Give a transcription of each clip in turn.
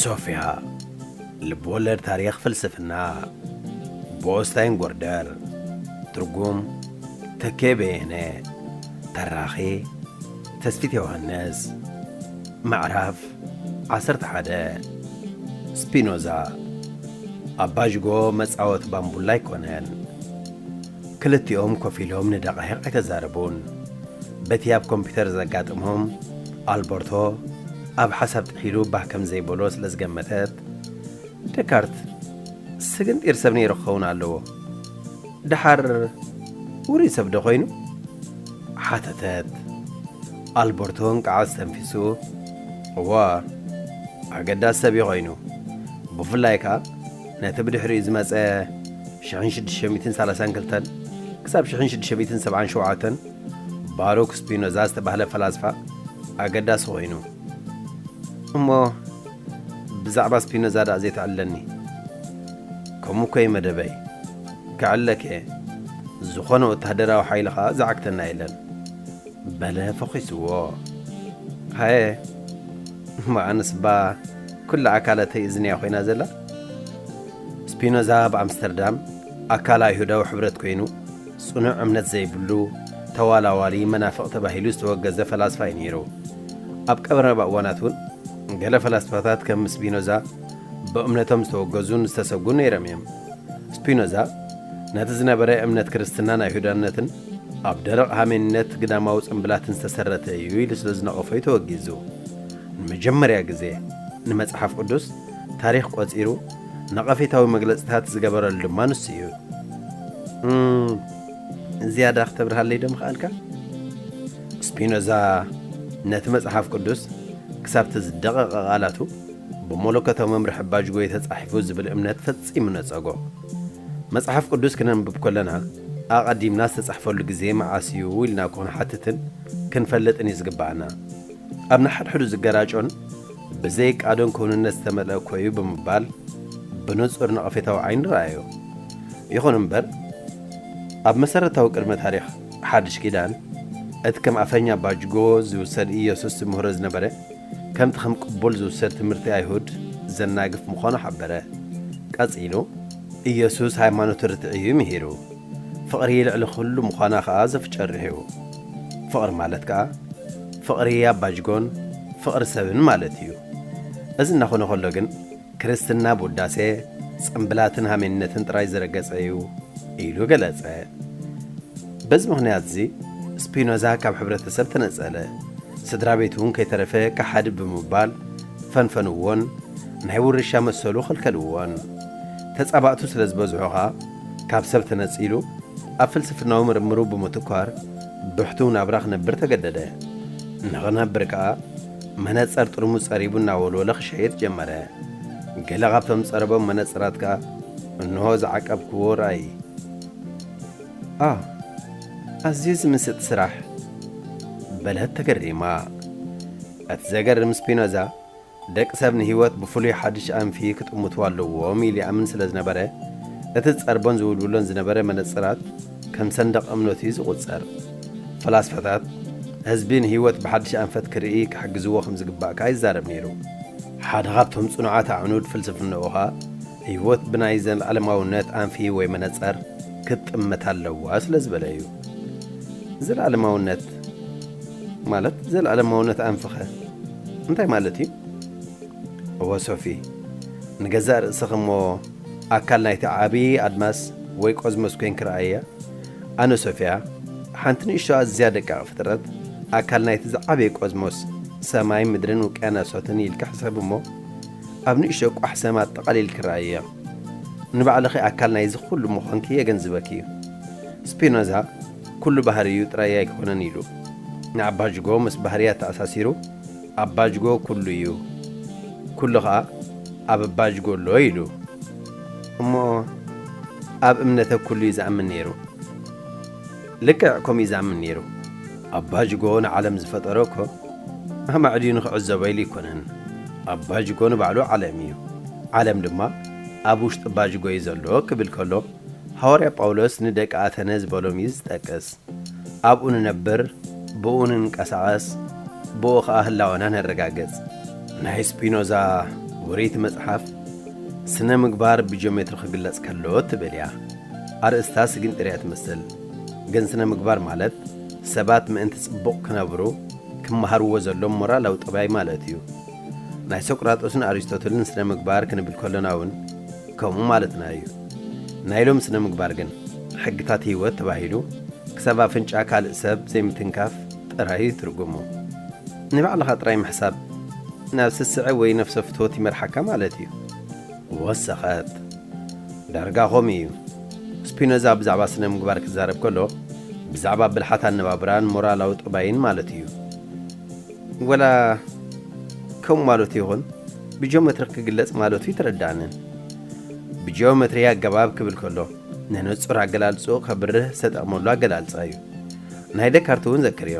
ሶፍያ ልብወለድ ታሪኽ ፍልስፍና ብኦስታይን ጎርደር ትርጉም ተኬ በየነ ተራኺ ተስፊት ዮሃንስ ምዕራፍ ዓሰርተ ሓደ፣ ስፒኖዛ፣ ኣባዥጎ መጻወቲ ባምቡላ ኣይኮነን። ክልቲኦም ኮፍ ኢሎም ንደቓሂቕ ኣይተዛረቡን። በቲ ኣብ ኮምፒተር ዘጋጠሞም፣ ኣልበርቶ ኣብ ሓሳብ ጥሒሉ ባህ ከም ዘይበሎ ስለ ዝገመተት፣ ደካርት ስግንጢር ሰብ ነይሩ ክኸውን ኣለዎ። ደሓር ውሩይ ሰብ ዶ ዀይኑ? ሓተተት። ኣልበርቶ እንቅዓ ኣስተንፊሱ፣ እወ፣ ኣገዳሲ ሰብ እዩ ዀይኑ፣ ብፍላይ ከኣ ነቲ ብድሕሪኡ ዝመጸ ሽሕን ሽዱሽተ ሚእትን ሰላሳን ክልተን ክሳብ ሽሕን ሽዱሽተ ሚእትን ሰብዓን ሸውዓተን ባሩክ ስፒኖዛ ዝተባህለ ፈላስፋ ኣገዳሲ ዀይኑ እሞ ብዛዕባ ስፒኖዛ ድኣ ዘይትዕለኒ ከምኡ እኮ እዩ መደበይ ክዕለክ እየ ዝኾነ ወታሃደራዊ ሓይሊ ከኣ ዝዓግተና የለን በለ ፈኺስዎ ሃየ እሞ ኣነስ እባ ኩላ ኣካላተይ እዝንያ ኮይና ዘላ ስፒኖዛ ኣብ ኣምስተርዳም ኣካል ኣይሁዳዊ ሕብረት ኮይኑ ጽኑዕ እምነት ዘይብሉ ተዋላዋሊ መናፍቕ ተባሂሉ ዝተወገዘ ፈላስፋ እዩ ነይሩ ኣብ ቀረባ እዋናት እውን ገለ ፈላስፋታት ከም ስፒኖዛ ብእምነቶም ዝተወገዙን ዝተሰጉን ነይሮም እዮም። ስፒኖዛ ነቲ ዝነበረ እምነት ክርስትናን ኣይሁዳነትን ኣብ ደረቕ ሃሜንነት ግዳማዊ ጽምብላትን ዝተሰረተ እዩ ኢሉ ስለ ዝነቐፎ እዩ ተወጊዙ። ንመጀመርያ ግዜ ንመጽሓፍ ቅዱስ ታሪኽ ቆጺሩ ነቐፌታዊ መግለጺታት ዝገበረሉ ድማ ንሱ እዩ። እም፣ ዝያዳ ክተብርሃለይ ዶ ምኸኣልካ? ስፒኖዛ ነቲ መጽሓፍ ቅዱስ ክሳብቲ ዝደቐቐ ቓላቱ ብመለኮታዊ መምርሒ ባጅጎ እዩ ተጻሒፉ ዝብል እምነት ፈጺሙ ነጸጎ። መጽሓፍ ቅዱስ ክነንብብ ከሎና ኣቐዲምና ዝተጻሕፈሉ ግዜ መዓስ እዩ ኢልና ክንሓትትን ክንፈልጥን እዩ ዝግብኣና። ኣብ ንሓድሕዱ ዝገራጮን ብዘይ ቃዶን ክውንነት ዝተመልአ እኮ እዩ ብምባል ብንጹር ነቐፌታዊ ዓይኒ ረኣዮ። ይኹን እምበር ኣብ መሰረታዊ ቅድመ ታሪኽ ሓድሽ ኪዳን እቲ ከም ኣፈኛ ባጅጎ ዚውሰድ ኢየሱስ ዚምህሮ ዝነበረ ከምቲ ከም ቅቡል ዚውሰድ ትምህርቲ ኣይሁድ ዘናግፍ ምዃኑ ሓበረ። ቀጺሉ ኢየሱስ ሃይማኖት ርትዒ እዩ ምሂሩ። ፍቕሪ ልዕሊ ኩሉ ምዃና ከኣ ዘፍጨ ርሒው። ፍቕሪ ማለት ከኣ ፍቕሪ ኣባጅጎን ፍቕሪ ሰብን ማለት እዩ። እዚ እናኾነ ከሎ ግን፣ ክርስትና ብውዳሴ ጽምብላትን ሃሜንነትን ጥራይ ዝረገጸ እዩ ኢሉ ገለጸ። በዚ ምኽንያትዚ ስፒኖዛ ካብ ሕብረተሰብ ተነጸለ፣ ስድራ ቤት እውን ከይተረፈ ከሓዲ ብምባል ፈንፈንዎን ናይ ውርሻ መሰሉ ኸልከልዎን። ተጻባእቱ ስለ ዝበዝሑ ኸኣ ካብ ሰብ ተነጺሉ ኣብ ፍልስፍናዊ ምርምሩ ብምትኳር ብሕቱው ናብራ ክነብር ተገደደ። ንኽነብር ከኣ መነጸር ጥርሙዝ ጸሪቡ እናወልወለ ክሸይጥ ጀመረ። ገለ ካብቶም ዝጸረቦም መነጸራት ከኣ እንሆ ዝዓቀብክዎ ርኣዪ። ኣህ! ኣዝዩ ዝምስጥ ስራሕ! በለት ተገሪማ። እቲ ዘገርም ስፒኖዛ ደቂ ሰብ ንህይወት ብፍሉይ ሓድሽ ኣንፊ ክጥምቱ ኣለዎም ኢሉ ይኣምን ስለ ዝነበረ እቲ ዝጸርቦን ዝውልውሎን ዝነበረ መነጸራት ከም ሰንደቕ እምነቱ እዩ ዝቝጸር። ፈላስፋታት፣ ህዝቢ ንህይወት ብሓድሽ ኣንፈት ክርኢ ክሕግዝዎ ከም ዝግባእ ከኣ ይዛረብ ነይሩ። ሓደ ኻብቶም ጽኑዓት ኣዕኑድ ፍልስፍናኡ ኸኣ፣ ህይወት ብናይ ዘለኣለማውነት ኣንፊ ወይ መነጸር ክትጥመት ኣለዋ ስለ ዝበለ እዩ። ዘለኣለማውነት ማለት ዘለኣለማውነት ኣንፊኸ እንታይ ማለት እዩ? እወ ሶፊ፣ ንገዛእ ርእስኺ እሞ ኣካል ናይቲ ዓቢ ኣድማስ ወይ ቆዝሞስ ኮይንኪ ረኣይያ። ኣነ ሶፍያ፣ ሓንቲ ንእሽቶ ኣዝያ ደቃቕ ፍጥረት፣ ኣካል ናይቲ ዝዓበየ ቆዝሞስ፣ ሰማይ፣ ምድርን ውቅያናሳትን ኢልኪ ሕሰቢ እሞ፣ ኣብ ንእሽቶ ቋሕ ሰም ኣጠቓሊልኪ ረኣይዮ። ንባዕልኺ ኣካል ናይዚ ኩሉ ምዃንኪ የገንዝበኪ እዩ። ስፒኖዛ ኩሉ ባህርዩ ጥራይ ኣይኮነን ኢሉ። ንኣባጅጎ ምስ ባህርያት ተኣሳሲሩ፣ ኣብ ባጅጎ ኩሉ እዩ ኩሉ ኸኣ ኣብ ባጅጎ ኣሎ ኢሉ እሞ ኣብ እምነተ ኩሉ እዩ ዝኣምን ነይሩ ልክዕ ከምኡ እዩ ዝኣምን ነይሩ ኣብ ባጅጎ ንዓለም ዝፈጠሮ እኮ ኣማዕድዩ ንኽዕዘቦ ኢሉ ኣይኮነን ኣብ ባጅጎ ንባዕሉ ዓለም እዩ ዓለም ድማ ኣብ ውሽጢ ባጅጎ እዩ ዘሎ ክብል ከሎ ሃዋርያ ጳውሎስ ንደቂ ኣተነ ዝበሎም እዩ ዝጠቅስ ኣብኡ ንነብር፣ ብእኡ ንንቀሳቐስ፣ ብእኡ ኸኣ ህላወና ነረጋግጽ። ናይ ስፒኖዛ ውርይቲ መጽሓፍ ስነ ምግባር ብጂኦሜትሪ ክግለጽ ከሎ ትብል እያ። ኣርእስታ ስግንጢር እያ ትመስል፣ ግን ስነ ምግባር ማለት ሰባት ምእንቲ ጽቡቕ ክነብሩ ክመሃርዎ ዘሎም ሞራላዊ ጠባይ ማለት እዩ። ናይ ሶቅራጦስን ኣሪስቶትልን ስነ ምግባር ክንብል ከሎና እውን፣ ከምኡ ማለትና እዩ። ናይ ሎሚ ስነ-ምግባር ግን፣ ሕግታት ህይወት ተባሂሉ ክሳብ ኣፍንጫ ካልእ ሰብ ዘይምትንካፍ ጥራይ እዩ ትርጉሙ። ንባዕልኻ ጥራይ ምሕሳብ ናብ ስስዐ ወይ ነፍሰ-ፍትወት ይመርሓካ ማለት እዩ። ወሰኸት። ዳርጋ ከምኡ እዩ። ስፒኖዛ ብዛዕባ ስነ-ምግባር ክዛረብ ከሎ፣ ብዛዕባ ብልሓት ኣነባብራን ሞራላዊ ጠባይን ማለቱ እዩ። ወላ ከምኡ ማለቱ ይኹን ብጂኦመትሪ ክግለጽ ማለቱ ኣይተረድኣንን። ብጂኦመትሪ ኣገባብ ክብል ከሎ ንንጹር ኣገላልጽኡ ከብርህ ዝተጠቕመሉ ኣገላልጻ እዩ። ናይ ደካርት እውን ዘክርዮ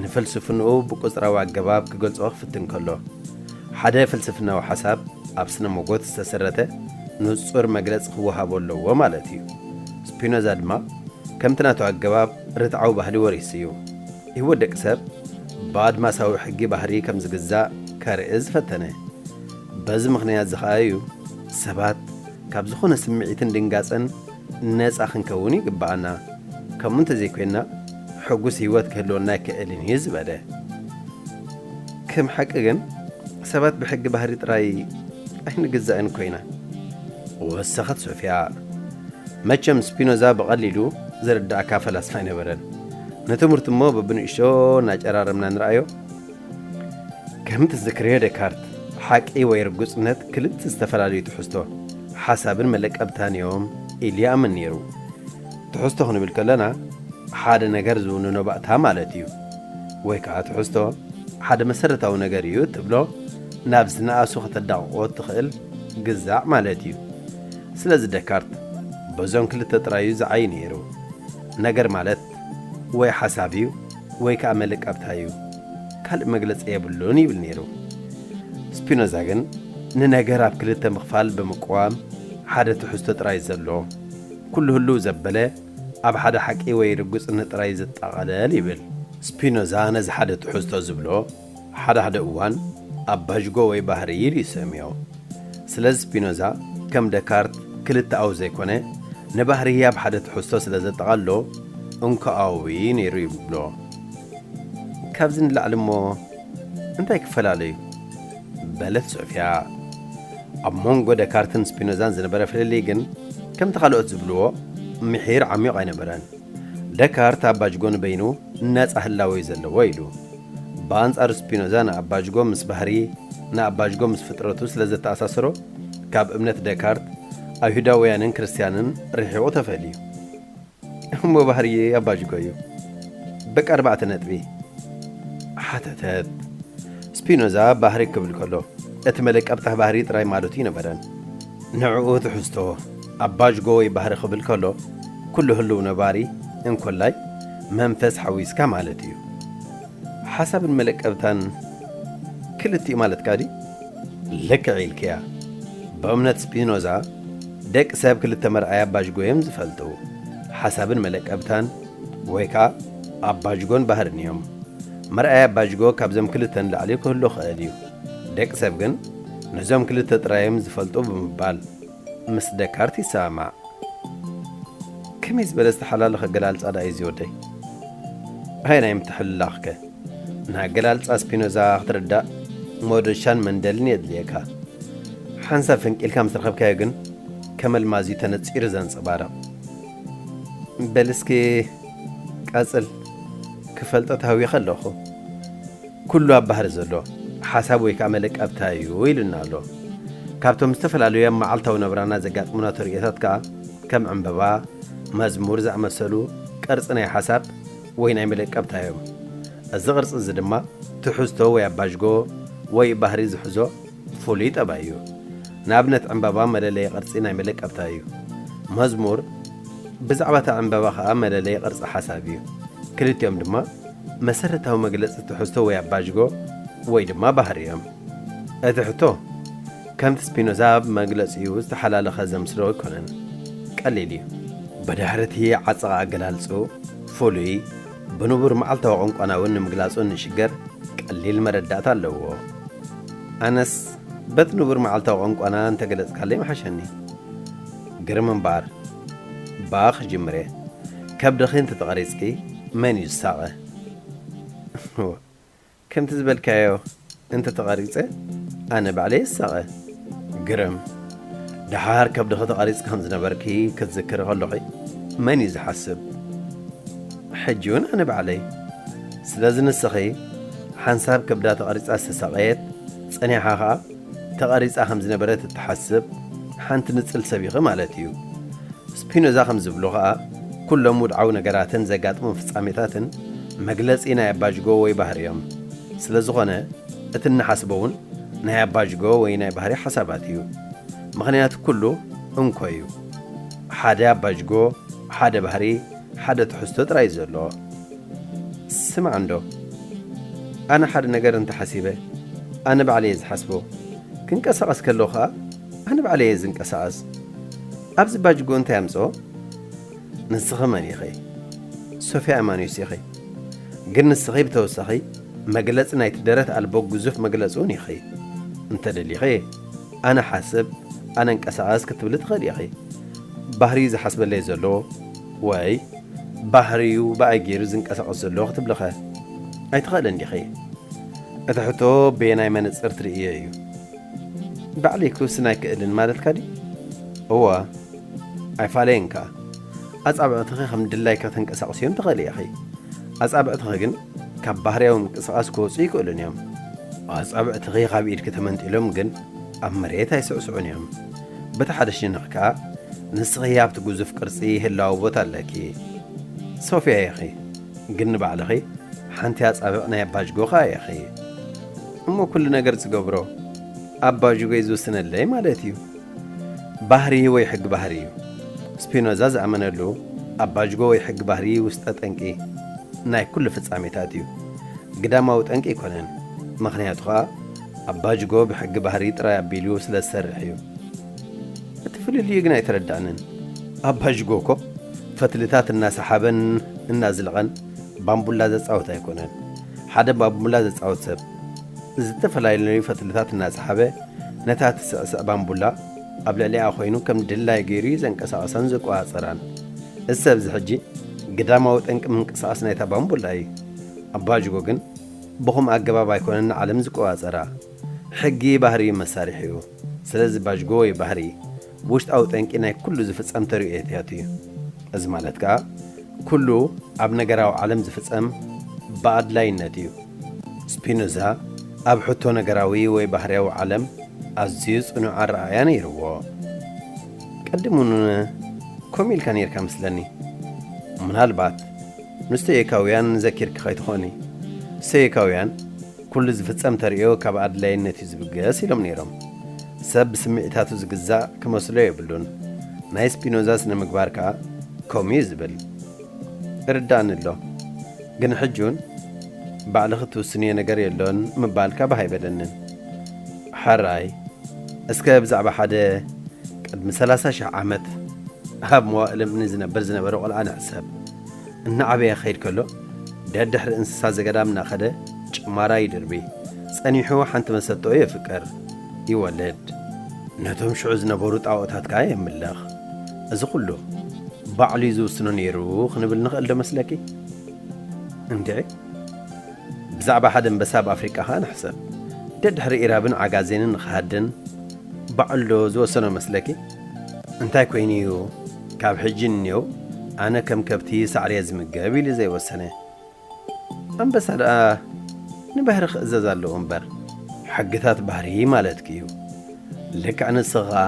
ንፍልስፍንኡ ብቁጽራዊ ኣገባብ ክገልጾ ክፍትን ከሎ ሓደ ፍልስፍናዊ ሓሳብ ኣብ ስነ ሞጎት ዝተሰረተ ንጹር መግለጽ ክወሃቦ ኣለዎ ማለት እዩ። ስፒኖዛ ድማ ከምቲ ናቱ ኣገባብ ርትዓዊ ባህሊ ወሪሱ እዩ። ህይወት ደቂ ሰብ ብኣድማሳዊ ሕጊ ባህርይ ከም ዝግዛእ ከርኢ ዝፈተነ። በዚ ምኽንያት'ዚ ከኣ እዩ ሰባት ካብ ዝኾነ ስምዒትን ድንጋጸን ነጻ ክንከውን ይግበኣና፣ ከምኡ እንተዘይኮይንና ሕጉስ ህይወት ክህልወና ኣይክእልን እዩ ዝበለ። ከም ሓቂ ግን ሰባት ብሕጊ ባህርይ ጥራይ ኣይንግዛእን እኮ ኢና። ወሰኸት ሶፍያ። መቸም ስፒኖዛ ብቐሊሉ ዝርድኣካ ፈላስፋ ኣይነበረን። ንትምህርቲ እሞ በብንእሽቶ እናጨራረምና ንርኣዮ። ከም ትዝክርዮ ደካርት፣ ሓቂ ወይ ርጉጽነት ክልተ ዝተፈላለዩ ትሕዝቶ፣ ሓሳብን መለቀብታን እዮም ኢሉ ይኣምን ነይሩ። ትሕዝቶ ክንብል ከሎና ሓደ ነገር ዝውንኖ ባእታ ማለት እዩ። ወይ ከኣ ትሕዝቶ ሓደ መሰረታዊ ነገር እዩ እትብሎ ናብ ዝነኣሱ ከተዳቕቖ እትኽእል ግዛዕ ማለት እዩ። ስለዚ ደካርት በዞም ክልተ ጥራይ እዩ ዝዓዪ ነይሩ። ነገር ማለት ወይ ሓሳብ እዩ ወይ ከኣ መልእቀብታ እዩ፣ ካልእ መግለጺ የብሉን ይብል ነይሩ። ስፒኖዛ ግን ንነገር ኣብ ክልተ ምኽፋል ብምቅዋም ሓደ ትሕዝቶ ጥራይ ዘሎ፣ ኩሉ ህሉው ዘበለ ኣብ ሓደ ሓቂ ወይ ርግጽነት ጥራይ ዝጠቐለል ይብል። ስፒኖዛ ነዚ ሓደ ትሕዝቶ ዝብሎ፣ ሓደ ሓደ እዋን ኣብ ባዥጎ ወይ ባህሪ ይል ይሰምዮ። ስለዚ ስፒኖዛ ከም ደካርት ክልተኣዊ ዘይኮነ ንባህሪ ህያብ ሓደ ትሕዝቶ ስለ ዘጠቓልሎ እንኮኣዊ ነይሩ ይብሎ። ካብዚ ንላዕሊ እሞ እንታይ ክፈላለዩ? በለት ሶፍያ። ኣብ ሞንጎ ደካርትን ስፒኖዛን ዝነበረ ፍልልይ ግን ከምቲ ካልኦት ዝብልዎ ምሒር ዓሚዩቕ ኣይነበረን። ደካርት ኣባጅጎ ንበይኑ ነጻ ህላወ እዩ ዘለዎ ኢሉ። ብኣንጻሩ ስፒኖዛ ንኣባጅጎ ምስ ባህሪ፣ ንኣባጅጎ ምስ ፍጥረቱ ስለ ዘተኣሳስሮ፣ ካብ እምነት ደካርት፣ ኣይሁዳውያንን ክርስትያንን ርሒቑ ተፈልዩ። እሞ ባህሪ ኣባጅጎ እዩ በቃ ኣርባዕተ ነጥቢ? ሓተተት ስፒኖዛ። ባህሪ ክብል ከሎ እቲ መለቀብጣህ ባህሪ ጥራይ ማለቱ ኣይነበረን። ንዕኡ ትሕዝቶ ኣብ ባዥጎ ወይ ባህሪ ክብል ከሎ ኩሉ ህሉው ነባሪ እንኮላይ መንፈስ ሓዊስካ ማለት እዩ። ሓሳብን መለቀብታን ክልቲኡ ማለትካ ድዩ? ልክዕ ኢልክያ። ብእምነት ስፒኖዛ ደቂ ሰብ ክልተ መርኣያ ባዥጎ እዮም ዝፈልጡ፣ ሓሳብን መለቀብታን ወይ ከኣ ኣባዥጎን ባህርን እዮም። መርኣያ ባዥጎ ካብዘም ክልተ ንላዕሊ ክህሉ ክእል እዩ። ደቂ ሰብ ግን ነዞም ክልተ ጥራይ'ዮም ዝፈልጡ ብምባል ምስ ደካርት ይሰማማዕ። ከመይ ዝበለ ዝተሓላለኸ ኣገላልጻ ደኣ እዩ'ዚ ወደይ! ኣየናይ ምትሕልላኽ'ከ? ንኣገላልጻ ስፒኖዛ ክትርዳእ መዶሻን መንደልን የድልየካ። ሓንሳብ ፈንቂልካ ምስ ረኸብካዮ ግን ከም ኣልማዝ'ዩ ተነጺሩ ዘንጸባርቕ። በል እስኪ ቀጽል፣ ክፈልጦ ተሃዊኸ ኣለኹ። ኩሉ ኣብ ባህሪ ዘሎ ሓሳብ ወይ ከኣ መለቀብታ እዩ ኢሉና ኣሎ። ካብቶም ዝተፈላለዩ ኣብ መዓልታዊ ናብራና ዘጋጥሙና ተርእዮታት ከኣ ከም ዕንበባ፣ መዝሙር ዝኣመሰሉ ቅርጺ ናይ ሓሳብ ወይ ናይ መለቀብታ እዮም። እዚ ቅርጺ እዚ ድማ ትሕዝቶ ወይ ኣባዥጎ ወይ ባህሪ ዝሕዞ ፍሉይ ጠባይ እዩ። ንኣብነት ዕንበባ መለለዪ ቅርጺ ናይ መለቀብታ እዩ። መዝሙር ብዛዕባ እታ ዕንበባ ከኣ መለለዪ ቅርጺ ሓሳብ እዩ። ክልቲኦም ድማ መሰረታዊ መግለጺ ትሕዝቶ ወይ ኣባጅጎ ወይ ድማ ባህሪ እዮም። እቲ ሕቶ ከምቲ ስፒኖዛ ኣብ መግለጺኡ ዝተሓላለኸ ዘምስሎ ኣይኮነን። ቀሊል እዩ። ብድሕሪ እቲ ዓጸቐ ኣገላልጽኡ፣ ፍሉይ፣ ብንቡር መዓልታዊ ቋንቋና እውን ንምግላጹ እንሽገር ቀሊል መረዳእታ ኣለዎ። ኣነስ በቲ ንቡር መዓልታዊ ቋንቋና እንተገለጽካለይ ምሓሸኒ። ግርም እምበኣር ባኽ ጅምሬ ከብድኺ እንተተቐሪጽኪ መን እዩ ዝሳቐ? እወ ከምቲ ዝበልካዮ እንተተቐሪጸ ኣነ ባዕለይ እየ ዝሳቐ። ግርም! ደሓር ከብድኺ ተቐሪጽኪ ከም ዝነበርኪ ክትዝክሪ ከሎኺ መን እዩ ዝሓስብ? ሕጂውን ኣነ ባዕለይ። ስለዚ ንስኺ ሓንሳብ ከብዳ ተቐሪጻ ዝተሳቐየት፣ ጸኒሓ ከኣ፣ ተቐሪጻ ከም ዝነበረት እትሓስብ ሓንቲ ንጽል ሰብ ኢኺ ማለት እዩ። ስፒኖዛ ከም ዝብሎ ኸኣ፣ ኵሎም ውድዓዊ ነገራትን ዘጋጥሞም ፍጻሜታትን መግለጺ ናይ ኣባጅጎ ወይ ባህሪ እዮም። ስለ ዝዀነ፣ እቲ እንሓስቦ እውን ናይ ኣባጅጎ ወይ ናይ ባህሪ ሓሳባት እዩ። ምኽንያቱ ኵሉ እንኮ እዩ። ሓደ ኣባጅጎ፣ ሓደ ባህሪ፣ ሓደ ትሕዝቶ ጥራይ ዘሎ ስማዕ እንዶ ኣነ ሓደ ነገር እንተ ሓሲበ ኣነ ባዕለይ እየ ዝሓስቦ ክንቀሳቀስ ከለኩ ከኣ ኣነ ባዕለይ እየ ዝንቀሳቀስ ኣብዚ ባጅጎ እንታይ ኣምጽኦ ንስኺ መን ኢኺ ሶፍያ ኣማኑስ ኢኺ ግን ንስኺ ብተወሳኺ መግለጺ ናይቲ ደረት ኣልቦ ግዙፍ መግለጺ ውን ኢኺ እንተ ደሊኺ ኣነ ሓስብ ኣነ እንቀሳቐስ ክትብሊ ትኽእሊ ኢኺ። ባህርይ ዝሓስበለይ ዘሎ ወይ ባህርዩ ብኣይ ገይሩ ዝንቀሳቐስ ዘሎ ክትብሊኸ ኣይትኽእልን ዲኺ? እቲ ሕቶ በየናይ መነጽር ትርእይዮ እዩ። ባዕለይ ክውስን ኣይክእልን ማለትካ ድዩ? እወ፣ ኣይፋለየን ከኣ። ኣጻብዕትኺ ከም ድላይኪ ከተንቀሳቕስዮም ትኽእሊ ኢኺ። ኣጻብዕትኺ ግን ካብ ባህርያዊ ምንቅስቓስ ክወጹ ኣይክእሉን እዮም። ኣጻብዕትኺ ካብ ኢድኪ ተመንጢሎም ግን ኣብ መሬት ኣይስዕስዑን እዮም። በቲ ሓደ ሸነኽ ከኣ ንስኺ ኣብቲ ግዙፍ ቅርጺ ህላወ ቦታ ኣለኪ። ሶፍያ ኢኺ፣ ግን ንባዕልኺ ሓንቲ ኣጻብዕ ናይ ኣባጅጎ ከኣ ኢኺ። እሞ ኩሉ ነገር ዝገብሮ ኣባጅጎይ ዝውስነለይ ማለት እዩ። ባህርይ ወይ ሕጊ ባህርይ እዩ። ስፒኖዛ ዝኣመነሉ ኣባጅጎ ወይ ሕጊ ባህርይ ውስጠ ጠንቂ ናይ ኩሉ ፍጻሜታት እዩ። ግዳማዊ ጠንቂ ኣይኮነን፣ ምኽንያቱ ከኣ ኣባጅጎ ብሕጊ ባህርይ ጥራይ ኣቢሉ ስለ ዝሰርሕ እዩ። እቲ ፍልልዩ ግን ኣይተረዳእንን። ኣባጅጎ እኮ ፈትልታት እናሰሓበን እናዝለቐን ባምቡላ ዘጻውት ኣይኮነን። ሓደ ባምቡላ ዘጻውት ሰብ፣ ዝተፈላለዩ ፈትልታት እናሰሓበ ነታ ትስዕስዕ ባምቡላ ኣብ ልዕሊኣ ኮይኑ ከም ድላይ ገይሩ እዩ ዘንቀሳቐሳን ዘቆጻጸራን። እዚ ሰብ እዚ ሕጂ ግዳማዊ ጠንቂ ምንቅስቓስ ናይታ ባምቡላ እዩ። ኣባጅጎ ግን ብኹም ኣገባብ ኣይኮነን ንዓለም ዝቆጻጸራ። ሕጊ ባህሪ እዩ መሳርሒኡ። ስለዚ ባጅጎ ወይ ባህሪ ውሽጣዊ ጠንቂ ናይ ኩሉ ዝፍጸም ተርእዮታት እዩ። እዚ ማለት ከኣ ኩሉ ኣብ ነገራዊ ዓለም ዝፍጸም ብኣድላይነት እዩ። ስፒኖዛ ኣብ ሕቶ ነገራዊ ወይ ባህርያዊ ዓለም ኣዝዩ ጽኑዕ ኣረኣእያ ነይርዎ። ቀዲሙ'ውን ከምኡ ኢልካ ነይርካ መስለኒ። ምናልባት ንስቶይካውያን ዘኪርኪ ከይትኾኒ። ስቶይካውያን፣ ኩሉ ዝፍጸም ተርእዮ ካብ ኣድላይነት'ዩ ዝብገስ ኢሎም ነይሮም። ሰብ ብስምዒታቱ ዝግዛእ ክመስሎ የብሉን። ናይ ስፒኖዛ ስነ-ምግባር ከኣ ከምኡ'ዩ ዝብል። ይርድኣኒ ኣሎ። ግን ሕጂ'ውን ባዕልኺ እትውስንዮ ነገር የሎን ምባልካ ባህ ኣይበለንን። ሕራይ እስከ ብዛዕባ ሓደ ቅድሚ ሰላሳ ሽሕ ዓመት ኣብ መዋእለ-እምኒ ዝነብር ዝነበረ ቆልዓ ንሕሰብ። እናዓበየ ክኸይድ ከሎ፣ ደድሕሪ እንስሳ ዘገዳም እናኸደ ጭማራ ይድርቢ። ጸኒሑ ሓንቲ መሰጥኦ የፍቅር። ይወልድ። ነቶም ሽዑ ዝነበሩ ጣኦታት ከኣ የምልኽ። እዚ ኹሉ ባዕሉ'ዩ ዝውስኖ ነይሩ ክንብል ንኽእልዶ መስለኪ? እንድዒ። ብዛዕባ ሓደ ኣንበሳ ኣብ ኣፍሪቃ ከኣ ንሕሰብ። ደድሕሪ ኢራብን ዓጋዜንን ንኽሃድን ባዕሉዶ ዝወሰኖ መስለኪ? እንታይ ኮይኑ እዩ ካብ ሕጂ ንኔው ኣነ ከም ከብቲ ሳዕሪየ ዝምገብ ኢሉ ዘይወሰነ? ኣንበሳ ደኣ ንባህሪ ክእዘዝ ኣለዎ እምበር። ሕግታት ባህሪ ማለትኪ እዩ። ልክዕ ንስኺ ኸኣ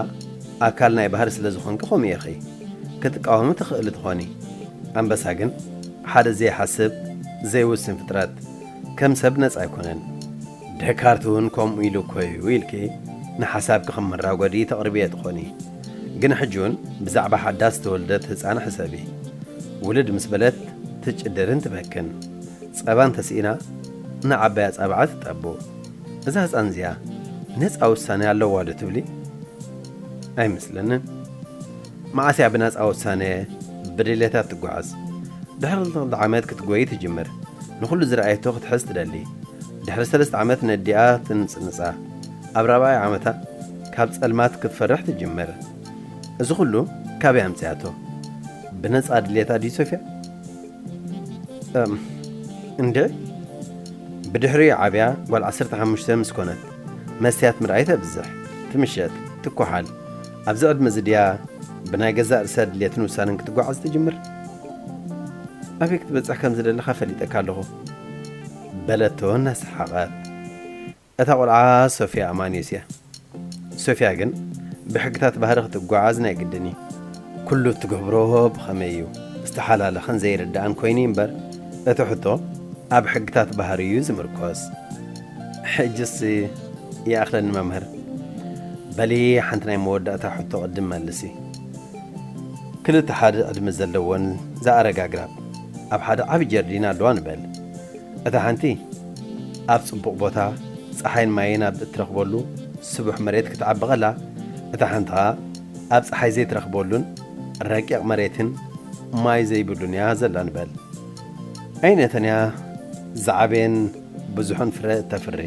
ኣካል ናይ ባህሪ ስለ ዝኾንኪ ከምኡ ኢኺ። ክትቃወሚ ትኽእሊ ትኾኒ። ኣንበሳ ግን ሓደ ዘይሓስብ ዘይውስን ፍጥረት ከም ሰብ ነጻ ኣይኮነን። ደካርት እውን ከምኡ ኢሉ እኮ እዩ ኢልኪ ንሓሳብኪ ከም መራጎዲ ተቕርብዬ ትኾኒ። ግን ሕጂ እውን ብዛዕባ ሓዳስ ዝተወልደት ህጻን ሕሰቢ። ውልድ ምስ በለት ትጭድርን ትበክን። ጸባ እንተስኢና ንዓባይ ኣጻብዓ ትጠቡ። እዛ ህጻን እዚኣ ነጻ ውሳኔ ኣለዋዶ ትብሊ? ኣይመስለንን። መዓስ እያ ብናጻ ውሳነ ብድሌታ እትጓዓዝ? ድሕሪ ክልተ ዓመት ክትጎዪ ትጅምር። ንኹሉ ዝረኣየቶ ክትሕዝ ትደሊ። ድሕሪ ሰለስተ ዓመት ነዲኣ ትንጽንጻ። ኣብ ራብዓይ ዓመታ ካብ ጸልማት ክትፈርሕ ትጅምር። እዚ ኩሉ ካበይ ኣምጺኣቶ? ብነጻ ድሌታ ድዩ ሶፍያ? እም እንድዒ! ብድሕሪኡ ዓብያ ጓል ዓሰርተ ሓሙሽተ ምስ ኮነት፣ መስትያት ምርኣይ ተብዝሕ፣ ትምሸጥ፣ ትኳሓል። ኣብዚ ዕድመ እዚ ድያ ብናይ ገዛእ ርእሳ ድልየትን ውሳነን ክትጓዓዝ ትጅምር? ኣበይ ክትበጽሕ ከም ዝደለኻ ፈሊጠካ ኣለኹ። በለቶ እናሰሓቐት። እታ ቈልዓ ሶፍያ ኣማንዮስ እያ። ሶፍያ ግን ብሕግታት ባህሪ ክትጓዓዝ ናይ ግድን እዩ። ኩሉ እትገብሮ ብኸመይ እዩ ዝተሓላለኸን ዘይርዳእን ኮይኑ እዩ እምበር እቲ ሕቶ ኣብ ሕግታት ባህሪ እዩ ዝምርኮስ። ሕጅስ ይኣኽለኒ መምህር በሊ ሓንቲ ናይ መወዳእታ ሕቶ ቅድም መልሲ ክልተ ሓደ ዕድመ ዘለወን ዝኣረጋ ኣግራብ ኣብ ሓደ ዓቢ ጀርዲን ኣለዋ ንበል እታ ሓንቲ ኣብ ጽቡቕ ቦታ ፀሓይን ማይን ኣብ እትረኽበሉ ስቡሕ መሬት ክትዓቢ ቐላ እታ ሓንቲ ኸኣ ኣብ ፀሓይ ዘይትረኽበሉን ረቂቕ መሬትን ማይ ዘይብሉን እያ ዘላ ንበል ኣይነተን እያ ዝዓበየን ብዙሕን ፍረ እተፍሪ።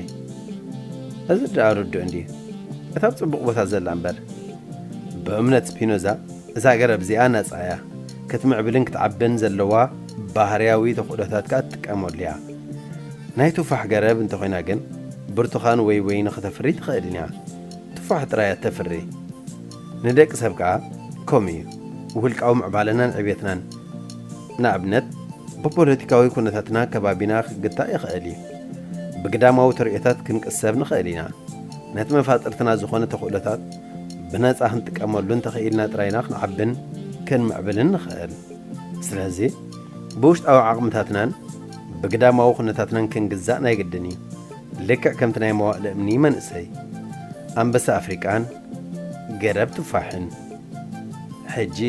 እዚ ደኣ ርዱእ እንድዩ፣ እታ ኣብ ጽቡቕ ቦታ ዘላ እምበር። ብእምነት ስፒኖዛ እዛ ገረብ እዚኣ ናጻ እያ፣ ክትምዕብልን ክትዓብን ዘለዋ ባህርያዊ ተኽእሎታት ከኣ ትጥቀመሉ እያ። ናይ ቱፋሕ ገረብ እንተ ዀይና ግን ብርቱኻን ወይ ወይኒ ኽተፍሪ ኣይትኽእልን እያ፣ ቱፋሕ ጥራይ እያ እተፍሪ። ንደቅሰብ ከኣ ከምኡ እዩ፣ ውልቃዊ ምዕባለናን ዕብየትናን። ንኣብነት ብፖለቲካዊ ኩነታትና ከባቢና ክግታእ ይኸእል እዩ። ብግዳማዊ ተርእዮታት ክንቅሰብ ንኸእል ኢና። ነቲ መፋጥርትና ዝኾነ ተኽእሎታት ብነጻ ክንጥቀመሉ እንተኸኢልና ጥራይ ኢና ክንዓብን ክንምዕብልን ንኸእል። ስለዚ ብውሽጣዊ ዓቕምታትናን ብግዳማዊ ኩነታትናን ክንግዛእ ናይ ግድን እዩ። ልክዕ ከምቲ ናይ መዋእለ እምኒ መንእሰይ ኣንበሳ ኣፍሪቃን፣ ገረብ ቱፋሕን ሕጂ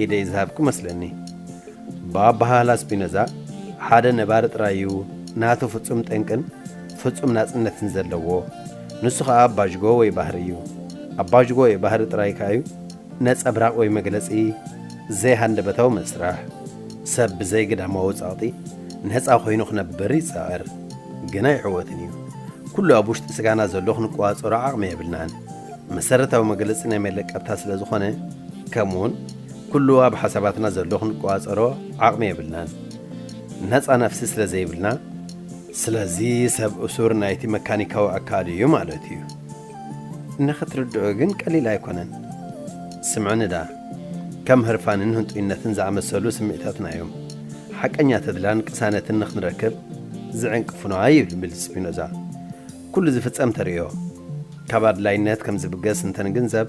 ኢደይ ዝሃብኩ መስለኒ። ብኣበሃህላ ስፒኖዛ ሓደ ነባሪ ጥራይ'ዩ ናቱ ፍጹም ጠንቅን ፍጹም ናጽነትን ዘለዎ፣ ንሱ ከኣ ኣባጅጎ ወይ ባህሪ'ዩ። ኣባጅጎ ወይ ባህሪ ጥራይ ከኣ'ዩ ነጸብራቕ ወይ መግለጺ ዘይሃንደበታዊ መስርሕ፣ ሰብ ብዘይ ግዳማዊ ጸቕጢ ነጻ ኮይኑ ክነብር ይጽዕር፣ ግን ኣይዕወትን እዩ። ኩሉ ኣብ ውሽጢ ስጋና ዘሎ ክንቆጻጸሮ ዓቕሚ የብልናን። መሰረታዊ መግለጺ ናይ መለቀብታ ስለ ዝኾነ፣ ከምኡውን ኩሉ ኣብ ሓሳባትና ዘሎ ክንቆጻጸሮ ዓቕሚ የብልናን። ነጻ ነፍሲ ስለ ዘይብልና። ስለዚ ሰብ እሱር ናይቲ መካኒካዊ ኣካሉ እዩ ማለት እዩ። ንኽትርድኦ ግን ቀሊል ኣይኮነን። ስምዑኒ ደኣ። ከም ህርፋንን ህንጡይነትን ዝኣመሰሉ ስምዒታትና እዮም፣ ሓቀኛ ተድላን ቅሳነትን ንኽንረክብ ዝዕንቅፉና ይብል ስፒኖዛ። ኩሉ ዝፍጸም ተርእዮ፣ ካብ ኣድላይነት ከም ዝብገስ እንተ ንግንዘብ፣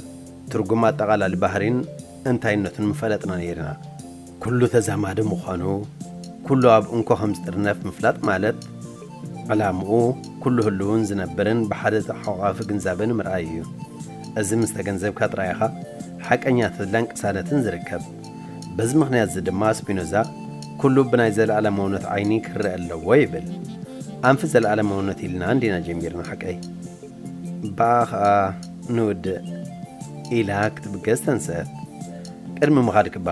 ትርጉም ኣጠቓላሊ ባህሪን እንታይነቱን ምፈለጥና ነይርና። ኩሉ ተዛማዲ ምዃኑ፣ ኩሉ ኣብ እንኮ ከም ዝጥርነፍ ምፍላጥ ማለት፣ ዕላምኡ ኩሉ ህሉውን ዝነብርን ብሓደ ተሓቛቛፊ ግንዛበ ንምርኣይ እዩ። እዚ ምስ ተገንዘብካ ጥራይ ኢኻ ሓቀኛ ተድላን ቅሳነትን ዝርከብ። በዚ ምኽንያት'ዚ ድማ ስፒኖዛ ኩሉ ብናይ ዘለኣለማውነት ዓይኒ ክርኣ ኣለዎ ይብል። ኣንፊ ዘለኣለማውነት ኢልና እንዲና ጀሚርና ሓቀይ? በኣ ኸኣ ንውድእ! ኢላ ክትብገስ ተንስአት። ቅድሚ ምኻድኪ'ባ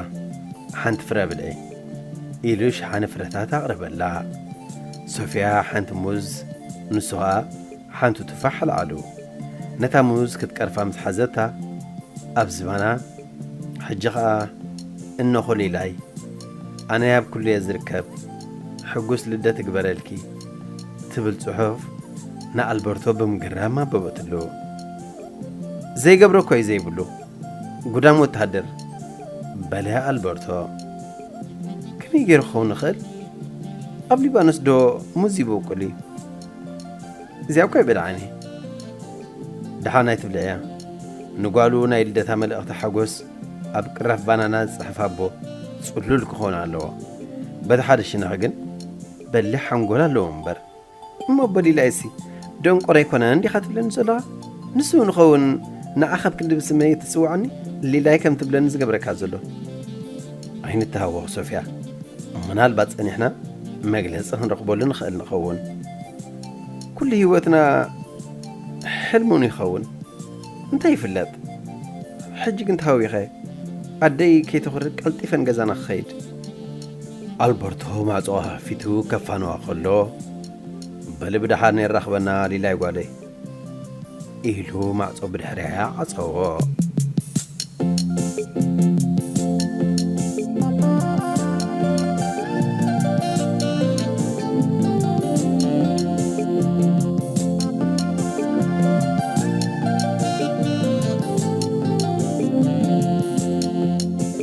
ሓንቲ ፍረ ብልዒ። ኢሉ ሸሓኒ ፍረታት ኣቕረበላ። ሶፍያ ሓንቲ ሙዝ ንሱ ኸኣ ሓንቱ ቱፋሕ ኣልዓሉ። ነታ ሙዝ ክትቀርፋ ምስ ሓዘታ ኣብ ዝባና፣ ሕጂ ኸኣ እኖ ኹሊላይ፣ ኣነ ኣብ ኩሉ'የ ዝርከብ፣ ሕጉስ ልደት እግበረልኪ፣ ትብል ጽሑፍ ንኣልበርቶ ብምግራም ኣበበትሉ። ዘይገብሮ'ኮ'ዩ ዘይብሉ። ጉዳም ወተሃደር! በለ ኣልበርቶ። ከመይ ገይሩ ክኸውን ይኽእል? ኣብ ሊባኖስዶ ሙዝ ይበቁል እዩ? እዚኣ እኳ ኣይበልዓን እየ። ደሓን ኣይትብልዕያ። ንጓሉ ናይ ልደታ መልእኽቲ ሓጎስ ኣብ ቅራፍ ባናና ዝጽሕፋ ኣቦ ጽሉል ክኸውን ኣለዎ። በታ ሓደ ሽነኽ ግን በሊሕ ሓንጎል ኣለዎ እምበር። እሞ በሊላይሲ ደንቆሮ ኣይኮነን ዲኻ ትብለኒ ዘሎኻ? ንሱ ንኸውን ንዓኻ ብ ክንዲ ብስመይ እትጽውዓኒ ሊላይ ከም ትብለኒ ዝገብረካ ዘሎ? ኣይንተሃወኽ ሶፍያ፣ ምናልባት ጸኒሕና መግለጺ ክንረኽበሉ ንኽእል ንኸውን። ኩሉ ህይወትና ሕልሚ ውን ይኸውን እንታይ ይፍለጥ። ሕጂ ግን ተሃዊኸ ኣደይ ከይተኹርዕ ቀልጢፈ ንገዛና ክኸይድ ኣልበርቶ ማዕጾ ከፊቱ ከፋንዋ ከሎ፣ በሊ ብደሓን የራኽበና ሊላይ ጓለይ። ኢሉ ማዕጾ ብድሕሪኣ ዓጸዎ።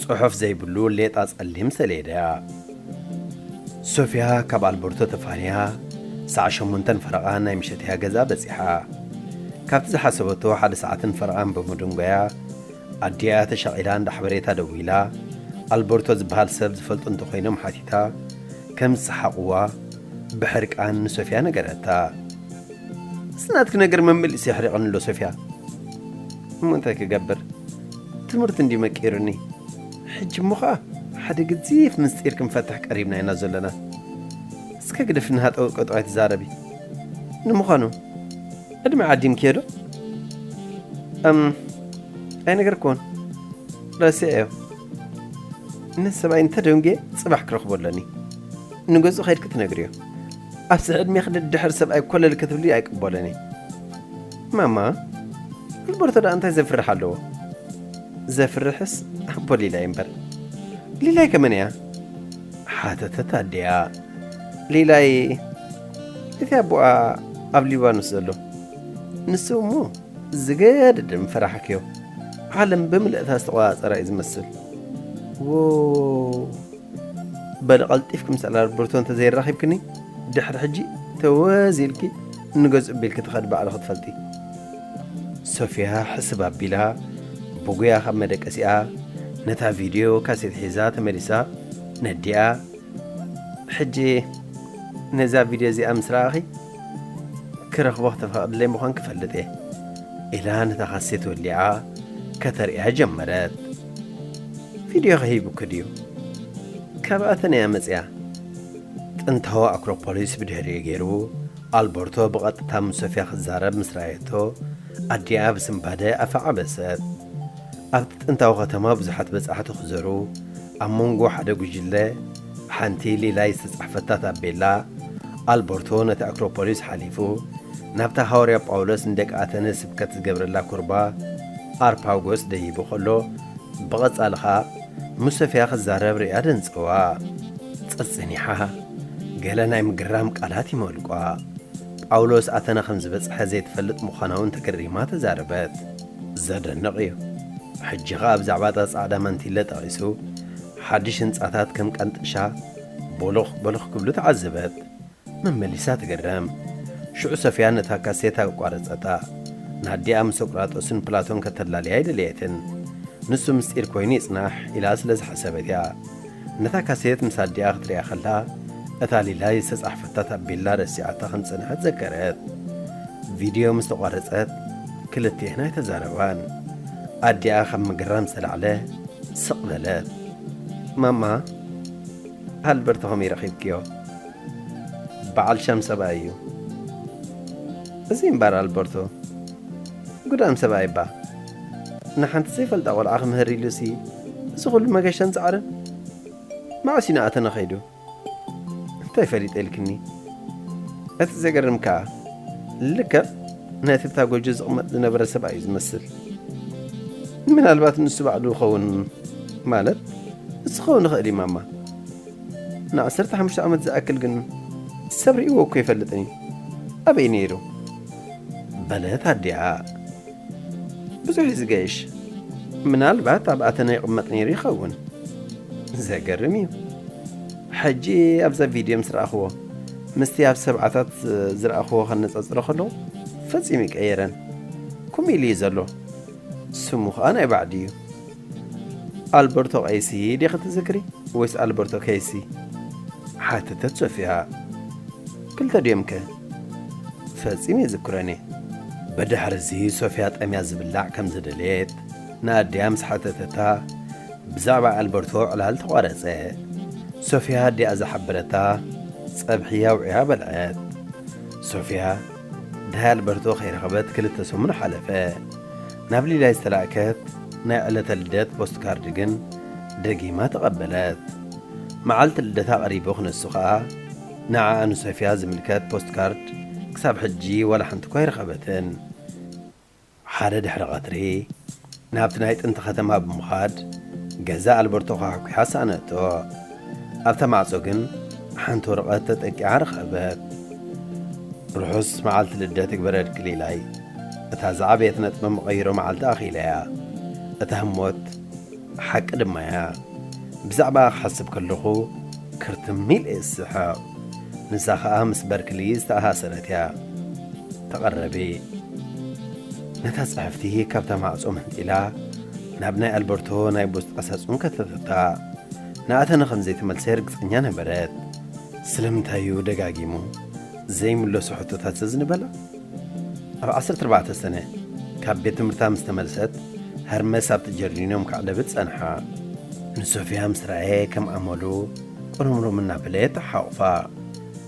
ጽሑፍ ዘይብሉ ሌጣ ጸሊም ሰሌዳ። ሶፍያ ካብ ኣልበርቶ ተፋንያ ሰዓት ሸሞንተን ፈረቓን ናይ ምሸት'ያ ገዛ በጺሓ። ካብቲ ዝሓሰበቶ ሓደ ሰዓትን ፈረቓን ብምድንጓያ፣ ኣዲኣ ተሻቒላ እንዳ ሓበሬታ ደዊላ፣ ኣልበርቶ ዝበሃል ሰብ ዝፈልጡ እንተ ኾይኖም ሓቲታ፣ ከም ዝሰሓቑዋ ብሕርቃን ንሶፍያ ነገረታ። እዚ ናትኪ ነገር መመሊሱ የሕሪቐኒ'ሎ ሶፍያ። እሞ እንታይ ክገብር? ትምህርቲ እንድዩ መቂሩኒ ሕጂ እሞ ከኣ ሓደ ገዚፍ ምስጢር ክንፈትሕ ቀሪብና ኢና ዘሎና እስከ ግደፊ ንሃጠው ቀጠው ኣይትዛረቢ ንምዃኑ ዕድመ ዓዲምክዮ ዶ እም ኣይነገርክዎን ረሲዐዮ ነቲ ሰብኣይ እንተደንጉየ ጽባሕ ክረኽቦ ኣለኒ ንገዝኡ ከይድኪ ትነግርዮ ኣብዚ ዕድሜኺ ደድሕሪ ሰብኣይ ኮለል ክትብሊ ኣይቅበሎን እየ ማማ ኣልበርቶ ደኣ እንታይ ዘፍርሕ ኣለዎ ዘፍርሕስ ኣቦ ሊላይ እምበር ሊላይ ከመን እያ ሓተተት ኣዲኣ ሊላይ እቲ ኣቦኣ ኣብ ሊባኖስ ዘሎ ንሱ እሞ ዝገድድም ፈራሕክዮ ዓለም ብምልእታ ዝተቆፃፀራ እዩ ዝመስል ዎ በል ቀልጢፍኩም ሰላር ብርቶ እንተዘይራኺብክኒ ድሕሪ ሕጂ ተወዝ ኢልኪ ንገዝ እቢልኪ ትኸዲ ባዕሉ ክትፈልጢ። ሶፍያ ሕስብ ኣቢላ ብጉያ ካብ መደቀሲኣ ነታ ቪድዮ ካሴት ሒዛ ተመሊሳ ነዲኣ ሕጂ ነዛ ቪድዮ እዚኣ ምስ ረኣኺ ክረኽቦ ክተፈቕድለይ ምዃንኪ እፈልጥ እየ ኢላ ነታ ካሴት ወሊዓ ከተርእያ ጀመረት። ቪድዮኺ ሂቡኪ ድዩ? ካብኣተን እያ መጺኣ። ጥንታዊ ኣክሮፖሊስ ብድሕሪኡ ገይሩ፣ ኣልበርቶ ብቐጥታ ምስ ሶፍያ ክዛረብ ምስ ረኣየቶ፣ ኣዲኣ ብስንባደ ኣፋ ዓበሰት። ኣብቲ ጥንታዊ ከተማ ብዙሓት በጻሕቲ ክዘሩ፣ ኣብ መንጎ ሓደ ጕጅለ ብሓንቲ ሊላይ ዝተጻሕፈታ ታቤላ፣ ኣልበርቶ ነቲ ኣክሮፖሊስ ሓሊፉ ናብታ ሃዋርያ ጳውሎስ ንደቂ ኣተነ ስብከት ዝገብረላ ኵርባ ኣርፓጎስ ደይቡ ከሎ ብቐጻሊ ኸኣ ንሶፍያ ክትዛረብ ርእያ ደንጸዋ። ጸጽኒሓ ገለ ናይ ምግራም ቃላት ይመልቋ። ጳውሎስ ኣተና ከም ዝበጽሐ ዘይትፈልጥ ምዃናውን ተገሪማ ተዛረበት። ዘደንቕ እዩ። ሕጂ ኸኣ ብዛዕባ እታ ጻዕዳ ማንቲለ ጠቒሱ ሓድሽ ህንጻታት ከም ቃንጥሻ ቦሎኽ ቦሎኽ ክብሉ ተዓዘበት። መመሊሳ ትግረም። ሽዑ ሶፍያ ነታ ካሴት ኣቋረጸታ። ንኣዲኣ ምስ ሶቅራጦስን ፕላቶን ከተላልያ ኣይደለየትን። ንሱ ምስጢር ኮይኑ ይጽናሕ ኢላ ስለ ዝሓሰበት እያ። ነታ ካሴት ምስ ኣዲኣ ክትርእያ ከላ፣ እታ ሊላይ ዝተጻሕፈታ ታቤላ ረሲዓታ ከም ዝጸንሐት ዘከረት። ቪድዮ ምስ ተቋረጸት ክልቲኤን ኣይተዛረባን። ኣዲኣ ካብ ምግራም ዝተላዕለ ስቕ በለት። ማማ፣ ኣልበርቶ ከመይ ረኺብክዮ? ባዓል ሸም ሰብኣይ እዩ እዚ እምባር ኣልበርቶ ጉዳም ሰብኣይ እባ ንሓንቲ ዘይፈልጣ ቆልዓ ክምህር ኢሉሲ እዚ ኩሉ መገሻን ጻዕርን መዓስ እዩ ንኣ ተነኺዱ እንታይ ፈሊጠ ኢልክኒ እቲ ዘገርም ከኣ ልክዕ ነቲ ኣብታ ጎጆ ዝቕመጥ ዝነበረ ሰብኣይ እዩ ዝመስል ምናልባት ንሱ ባዕሉ ይኸውን ማለት ንሱ ክኸውን ይኽእል እዩ ማማ ንዓሰርተ ሓሙሽተ ዓመት ዝኣክል ግን ሰብ ርእይዎ እኮ ኣይፈልጥን እዩ። ኣበይ ነይሩ? በለት ኣዲኣ። ብዙሕ እዩ ዝገይሽ። ምናልባት ኣብ ኣተና ይቕመጥ ነይሩ ይኸውን። ዘገርም እዩ። ሕጂ ኣብዛ ቪድዮ ምስ ረኣኽዎ ምስቲ ኣብ ሰብዓታት ዝረኣኽዎ ከነጻጽሮ ከለኹ ፈጺሙ ይቀየረን። ከምኡ ኢሉ እዩ ዘሎ። ስሙ ከኣ ናይ ባዕዲ እዩ። ኣልበርቶ ቀይሲ ዲኺ ትዝክሪ ወይስ ኣልበርቶ ከይሲ? ሓተተት ሶፍያ። ክልተ ድዮም ከ? ፈጺመ ኣይዝክሮን'የ። ብድሕር'ዚ ሶፍያ ጠምያ ዝብላዕ ከም ዝደለየት ንኣዲኣ ምስ ሓተተታ፣ ብዛዕባ ኣልበርቶ ዕላል ተቋረጸ። ሶፍያ ኣዲኣ ዝሓበረታ ጸብሒ ኣውዒያ በልዐት። ሶፍያ። ድሃይ ኣልበርቶ ከይረኸበት ክልተ ሰሙን ሓለፈ። ናብ ሊላይ ዝተላእከት ናይ ዕለተ ልደት ፖስትካርድ ግን ደጊማ ተቐበለት። መዓልቲ ልደታ ቀሪቡ ክንሱ ከኣ ንዓኣ ንሶፍያ ዝምልከት ፖስትካርድ ክሳብ ሕጂ ዋላ ሓንቲ እኳ ኣይረኸበትን። ሓደ ድሕሪ ቐትሪ፣ ናብቲ ናይ ጥንቲ ኸተማ ብምዃድ ገዛ ኣልበርቶ ዃሕኲሓ ሰኣነቶ። ኣብታ ማዕጾ ግን ሓንቲ ወረቐት ተጠቂዓ ረኸበት። ርሑስ መዓልቲ ልደት ይግበረልኪ ሊላይ። እታ ዝዓበየት ነጥበ መቐይሮ መዓልቲ ኣኺለያ። እታ ህሞት! ሓቂ ድማ እያ ብዛዕባኣ ክሓስብ ከለኹ ክርትም ኢለ እየ ዝስሕቕ። ንሳ ኸኣ ምስ በርክሊ ዝተኣሳሰረት እያ። ተቐረቢ። ነታ ጽሕፍቲ ካብታ ማዕጾ መንጢላ ናብ ናይ ኣልበርቶ ናይ ቡስ ጣሳጹን ከተተታ። ንኣተነ ከም ዘይተመልሰ ርግጸኛ ነበረት። ስለምንታይ እዩ ደጋጊሙ ዘይምለሶ ሕቶታት ዘዝንበላ? ኣብ ዓሰርተ ኣርባዕተ ሰነ ካብ ቤት ትምህርታ ምስ ተመልሰት፣ ሀርመስ ኣብቲ ጀርዲኖም ከዕለብት ጸንሓ። ንሶፍያ ምስ ረኣየ ከም ኣመሉ ቁርምሩም እናበለ ተሓቑፋ።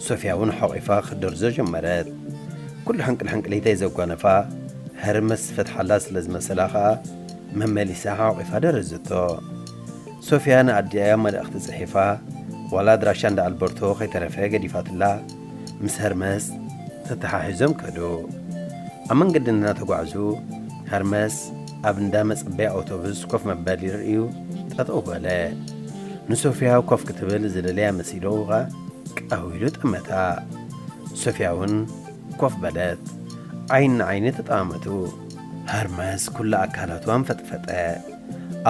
ሶፍያ እውን ሓቝፋ ክትደርዞ ጀመረት። ኩሉ ሕንቅልሕንቅሊተይ ዘጓነፋ ሀርመስ ዝፈትሓላ ስለ ዝመሰላ ከኣ መመሊሳ ሓቝፋ ደረዘቶ። ሶፍያ ንኣዲኣ መልእኽቲ ጽሒፋ ዋላ ኣድራሻ እንዳ ኣልበርቶ ከይተረፈ ገዲፋትላ። ምስ ሀርመስ ተተሓሒዞም ከዱ። ኣብ መንገዲ እናተጓዕዙ ሀርመስ ኣብ እንዳ መጸበያ ኣውቶቡስ ኮፍ መበሊ ርእዩ ጠጠው በለ። ንሶፍያ ኮፍ ክትብል ዝደልያ መሲልዎ ከኣ ቀው ኢሉ ጠመታ። ሶፍያ'ውን ኮፍ በለት። ዓይኒ ንዓይኒ ተጠማመቱ። ሀርመስ ኩሉ ኣካላቱ ኣንፈጥፈጠ።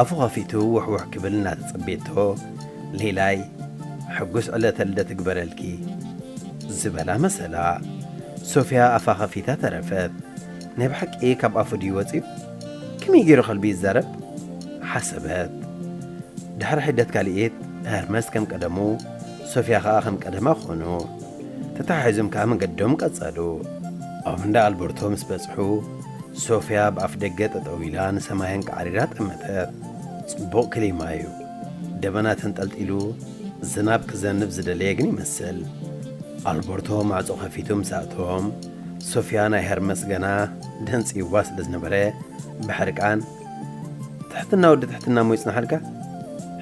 ኣፉ ከፊቱ ዉሕ ዉሕ ክብል እናተጸቤቶ ሊላይ ሕጉስ ዕለተ ልደት እግበረልኪ ዝበላ መሰላ ሶፍያ ኣፋ ከፊታ ተረፈት ናይ ብሓቂ ካብ ኣፉ ድዩ ወጺኡ ከመይ ጌሩ ከልቢ ይዛረብ ሓሰበት ድሕሪ ሒደት ካሊኢት ሀርመስ ከም ቀደሙ ሶፍያ ከኣ ከም ቀደማ ኮኑ። ተተሓሒዞም ከኣ መንገዶም ቀጸሉ። ኣብ እንዳ ኣልበርቶ ምስ በጽሑ ሶፍያ ኣብ ኣፍደገ ጠጠው ኢላ ንሰማይ ኣንቃዕሪራ ጠመተት። ጽቡቕ ክሊማ'ዩ። ደበና ተንጠልጢሉ ዝናብ ክዘንብ ዝደለየ ግን ይመስል። ኣልበርቶ ማዕጾ ከፊቱ ምስ ኣእተዎም ሶፍያ ናይ ሄርመስ ገና ደንጽዩዋ ስለ ዝነበረ ብሕርቃን ትሕትና ወዲ ትሕትና እሞ ይጽናሓልካ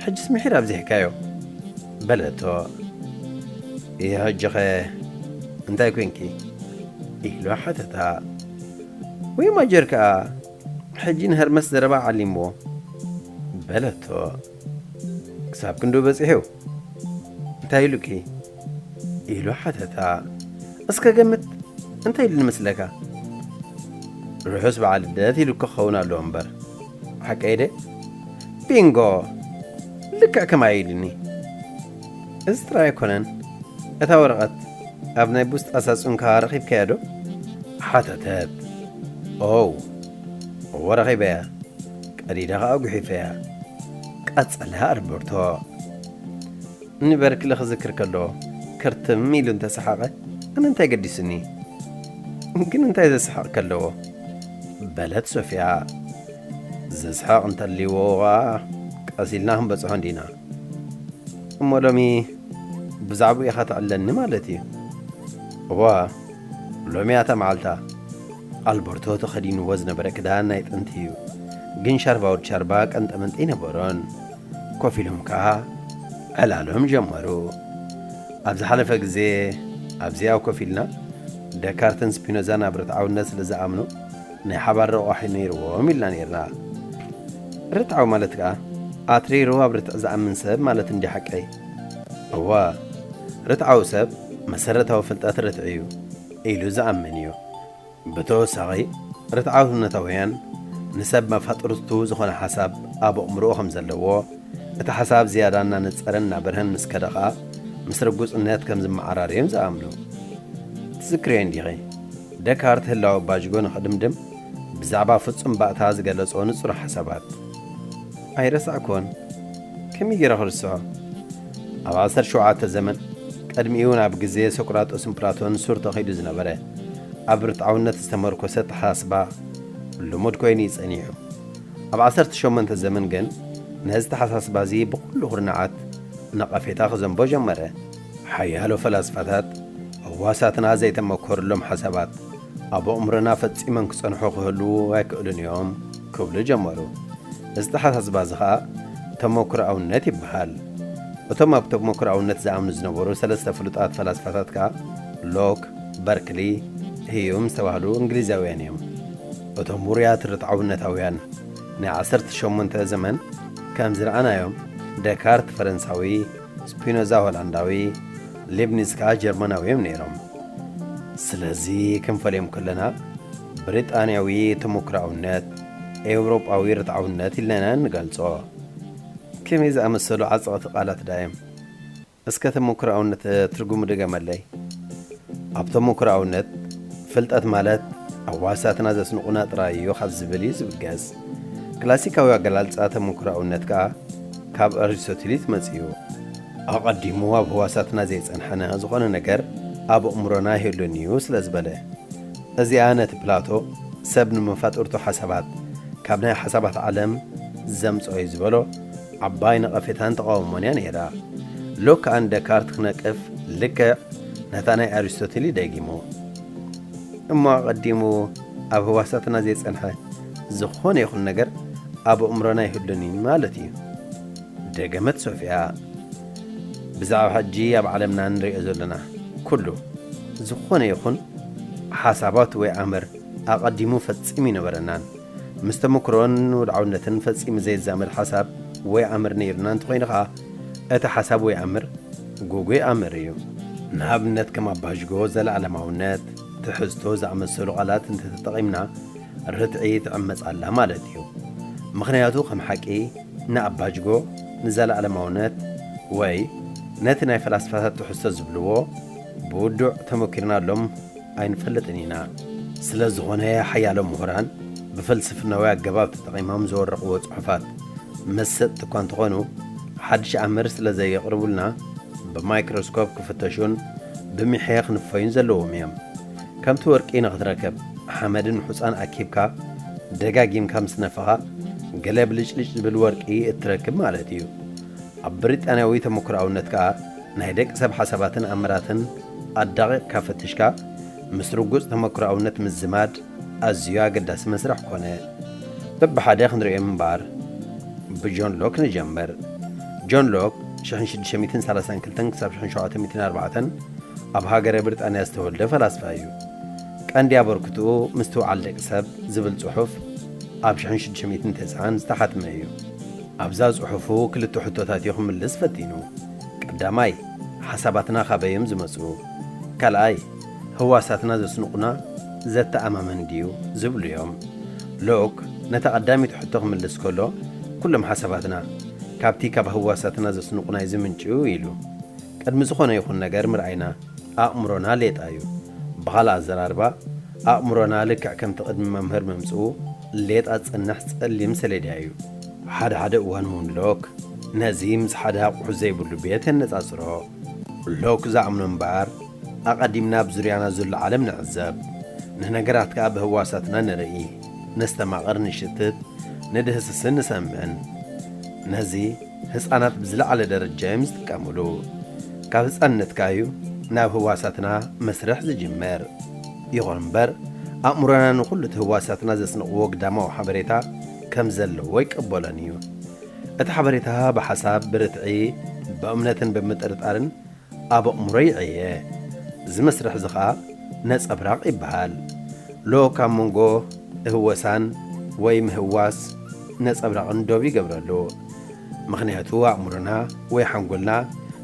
ሕጅስ ምሒር ኣብዚሕካዮ በለቶ ይሕጅኸ እንታይ ኮንኪ ኢሉ ሓተታ ወይ ማጀር ከኣ ሕጂ ንሀርመስ ዘረባ ዓሊምዎ በለቶ ክሳብ ክንዶ በጺሑ እንታይ ኢሉኪ ኢሉ ሓተታ። እስከ ገምት እንታይ ኢሉኒ መስለካ? ርሑስ በዓል ልደት ኢሉ ክኸውን ኣለዎ እምበር። ሓቀይ ድየ? ቢንጎ! ልክዕ ከማይ ኢሉኒ። እዚ ጥራይ ኣይኮነን፣ እታ ወረቐት ኣብ ናይ ቡስጣ ሳጹንካ ረኺብካያ ዶ? ሓተተት። ኦው! እወ ረኺበያ፣ ቀዲደ ኸኣ ጉሒፈያ። ቀጸለ ኣልበርቶ። እኒ በርክሊ ክዝክር ከሎ ክርትም ኢሉ እንተሰሓቐ ኣነ እንታይ ገዲሱኒ? ግን እንታይ ዘስሕቕ ከለዎ? በለት ሶፍያ። ዘስሕቕ እንተልይዎ ኸኣ ቀስ ኢልና ክንበጽሖ እንዲና። እሞ ሎሚ ብዛዕብኡ ኢኻ ተዕለኒ ማለት እዩ? እወ ሎሚ እያ እታ መዓልታ። ኣልበርቶ ተኸዲንዎ ዝነበረ ክዳን ናይ ጥንቲ እዩ፣ ግን ሻርባ ወድ ሻርባ ቀንጠመንጢ ኣይነበሮን። ኮፍ ኢሎም ከኣ ዕላሎም ጀመሩ። ኣብ ዝሓለፈ ግዜ ኣብዚኣ ኮፍ ኢልና ደካርትን ስፒኖዛን ኣብ ርትዓውነት ስለ ዝኣምኑ ናይ ሓባር ረቋሒ ነይርዎም ኢልና ነይርና። ርትዓዊ ማለት ከኣ ኣትሪሩ ኣብ ርትዕ ዝኣምን ሰብ ማለት እንድዩ ሓቀይ? እወ፣ ርትዓዊ ሰብ መሰረታዊ ፍልጠት ርትዒ'ዩ ኢሉ ዝኣምን እዩ። ብተወሳኺ፣ ርትዓውነታውያን ንሰብ መፋጥርቱ ዝኾነ ሓሳብ ኣብ ኣእምሮኡ ከም ዘለዎ፣ እቲ ሓሳብ ዝያዳ እናነጸረን እናበርሀን ምስ ከደ ኸኣ ምስ ርጉጽነት ከም ዝመዓራረ እዮም ዝኣምኑ። ትዝክርዮ እንዲኺ፣ ደካርት ህላወ ባጅጎ ንኽድምድም ብዛዕባ ፍጹም ባእታ ዝገለጾ ንጹር ሓሳባት። ኣይረሳዕኩዎን። ከመይ ገይረ ክርስዖ? ኣብ ዓሰርተ ሸውዓተ ዘመን፣ ቅድሚኡ'ውን ኣብ ግዜ ሶቅራጦስን ፕላቶን ሱር ተኺሉ ዝነበረ፣ ኣብ ርትዓውነት ዝተመርኮሰ ኣተሓሳስባ ልሙድ ኮይኑ እዩ ጸኒሑ። ኣብ ዓሰርተ ሸሞንተ ዘመን ግን ነዚ ኣተሓሳስባ'ዚ ብኹሉ ኩርናዓት ነቐፌታ ክዘንቦ ጀመረ። ሓያሎ ፈላስፋታት ህዋሳትና ዘይተመኮሩሎም ሓሳባት ኣብ ኣእምሮና ፈጺሞም ክጸንሑ ክህልዉ ኣይክእሉን እዮም ክብሉ ጀመሩ። እዚ ኣተሓሳስባ'ዚ ከኣ ተመኩሮኣውነት ይበሃል። እቶም ኣብ ተመኩሮኣውነት ዝኣምኑ ዝነበሩ ሰለስተ ፍሉጣት ፈላስፋታት ከኣ፣ ሎክ፣ በርክሊ፣ ህዩም ዝተባህሉ እንግሊዛውያን እዮም። እቶም ውሩያት ርትዓውነታውያን ናይ ዓሰርተ ሸሞንተ ዘመን ከም ዝረኣናዮም ደካርት ፈረንሳዊ፣ ስፒኖዛ ሆላንዳዊ፣ ሊብኒዝ ከኣ ጀርመናዊ እዮም ነይሮም። ስለዚ ክንፈልዮም ከለና ብሪጣንያዊ ተሞክሮኣውነት፣ ኤውሮጳዊ ርትዓውነት ኢልና ኢና እንገልጾ። ከመይ ዝኣመሰሉ ዓጸቕቲ ቃላት ደኣ እዮም! እስከ ተሞክሮኣውነት ትርጉሙ ድገመለይ። ኣብ ተሞክሮኣውነት፣ ፍልጠት ማለት ኣብ ዋህሳትና ዘስንቑና ጥራይ እዩ ካብ ዝብል እዩ ዝብገስ። ክላሲካዊ ኣገላልጻ ተሞክሮኣውነት ከኣ ካብ ኣሪስቶትል እዩ ዝመጽእዩ። ኣቐዲሙ ኣብ ህዋሳትና ዘይጸንሐነ ዝኾነ ነገር ኣብ ኣእምሮና ኣይህሉን እዩ ስለ ዝበለ። እዚኣ ነቲ ፕላቶ ሰብ ንመፋጥርቱ ሓሳባት ካብ ናይ ሓሳባት ዓለም ዘምጽኦ እዩ ዝበሎ ዓባይ ነቐፌታን ተቓውሞን እያ ነይራ። ሎክ ኣን ደካርት ክነቅፍ ልክዕ ነታ ናይ ኣሪስቶትል እዩ ደጊሙ። እሞ ኣቐዲሙ ኣብ ህዋሳትና ዘይጸንሐ ዝኾነ ይኹን ነገር ኣብ ኣእምሮና ኣይህሉን እዩ ማለት እዩ። ደገመት ሶፍያ። ብዛዕባ ሕጂ ኣብ ዓለምና እንርእዮ ዘሎና ኩሉ ዝኾነ ይኹን ሓሳባት ወይ ኣምር ኣቐዲሙ ፈጺሙ ኣይነበረናን። ምስ ተመክሮን ወድዓውነትን ፈጺሙ ዘይዛመድ ሓሳብ ወይ ኣምር ነይሩና እንተኾይኑ ከኣ እቲ ሓሳብ ወይ ኣምር ጉጉይ ኣምር እዩ። ንኣብነት ከም ኣባዥጎ፣ ዘለኣለማውነት፣ ትሕዝቶ ዝኣመሰሉ ቃላት እንተተጠቒምና ርትዒ ትዕመጽ ኣላ ማለት እዩ። ምኽንያቱ ከም ሓቂ ንኣባጅጎ፣ ንዘለኣለማውነት ወይ ነቲ ናይ ፈላስፋታት ትሕዝቶ ዝብልዎ ብውዱዕ ተመኪርናሎም፣ ኣይንፈልጥን ኢና። ስለ ዝኾነ ሓያሎ ምሁራን ብፍልስፍናዊ ኣገባብ ተጠቒሞም ዘወረቑዎ ጽሑፋት መሰጥቲ እኳ እንተኾኑ ሓድሽ ኣምር ስለ ዘየቕርቡልና ብማይክሮስኮፕ ክፍተሹን ብሚሕየ ክንፈዩን ዘለዎም እዮም። ከምቲ ወርቂ ንኽትረክብ ሓመድን ሑጻን ኣኪብካ ደጋጊምካ ምስ ነፋኻ ገለ ብልጭልጭ ዝብል ወርቂ እትረክብ ማለት እዩ። ኣብ ብሪጣንያዊ ተመኩሮኣውነት ከኣ ናይ ደቂ ሰብ ሓሳባትን ኣምራትን ኣዳቒቕካ ፈቲሽካ ምስ ርጉጽ ተመክሮኣውነት ምዝማድ ኣዝዩ ኣገዳሲ መስርሕ ኮነ። በብሓደ ክንርእዮም እምበኣር ብጆን ሎክ ንጀምር። ጆን ሎክ፣ ሽሕን ሽዱሽተ ሚእትን ሰላሳን ክልተን ክሳብ ሽሕን ሸውዓተ ሚእትን ኣርባዕተን ኣብ ሃገረ ብሪጣንያ ዝተወልደ ፈላስፋ እዩ። ቀንዲ ኣበርክትኡ ምስትውዓል ደቂ ሰብ ዝብል ጽሑፍ ኣብ ሽሕን ሽዱሽተ ሚእትን ተስዓን ዝተሓትመ እዩ። ኣብዛ ጽሑፉ ክልተ ሕቶታት እዩ ክምልስ ፈቲኑ። ቀዳማይ፣ ሓሳባትና ካበይ'ዮም ዝመጽኡ? ካልኣይ፣ ህዋሳትና ዘስንቑና ዘተኣማምን ድዩ? ዝብሉ'ዮም። ሎክ ነታ ቀዳመይቲ ሕቶ ክምልስ ከሎ፣ ኩሎም ሓሳባትና፣ ካብቲ ካብ ህዋሳትና ዘስንቑና'ዩ ዝምንጭው ኢሉ። ቅድሚ ዝኾነ ይኹን ነገር ምርኣይና፣ ኣእምሮና ሌጣ'ዩ። ብኻልእ ኣዘራርባ፣ ኣእምሮና ልክዕ ከምቲ ቅድሚ መምህር ምምጽኡ፣ ሌጣ ዝጸንሕ ጸሊም ሰሌዳ'ዩ። ሓደ ሓደ እዋን እውን ሎክ ነዚ ምስ ሓደ ኣቑሑ ዘይብሉ ቤት የነጻጽሮ። ሎክ ዝኣምኖ እምበኣር፣ ኣቐዲምና ኣብ ዙርያና ዘሎ ዓለም ንዕዘብ፣ ንነገራት ከኣ ብህዋሳትና ንርኢ፣ ነስተማቕር፣ ንሽትት፣ ንድህስስን ንሰምዕን። ነዚ ህጻናት ብዝለዓለ ደረጃ እዮም ዝጥቀምሉ። ካብ ህጻንነትካ እዩ ናብ ህዋሳትና መስርሕ ዝጅምር። ይኹን እምበር፣ ኣእምሮና ንኹሉ እቲ ህዋሳትና ዘስንቕዎ ግዳማዊ ሓበሬታ፣ ከም ዘለዎ ይቀበሎን እዩ። እቲ ሓበሬታ ብሓሳብ፣ ብርትዒ፣ ብእምነትን ብምጥርጣርን ኣብ ኣእምሮ ይዕየ። እዚ መስርሕ እዚ ኸኣ ነጸብራቕ ይበሃል። ሎ ካብ መንጎ እህወሳን ወይ ምህዋስ ነጸብራቕን ዶብ ይገብረሉ። ምኽንያቱ ኣእምሮና ወይ ሓንጎልና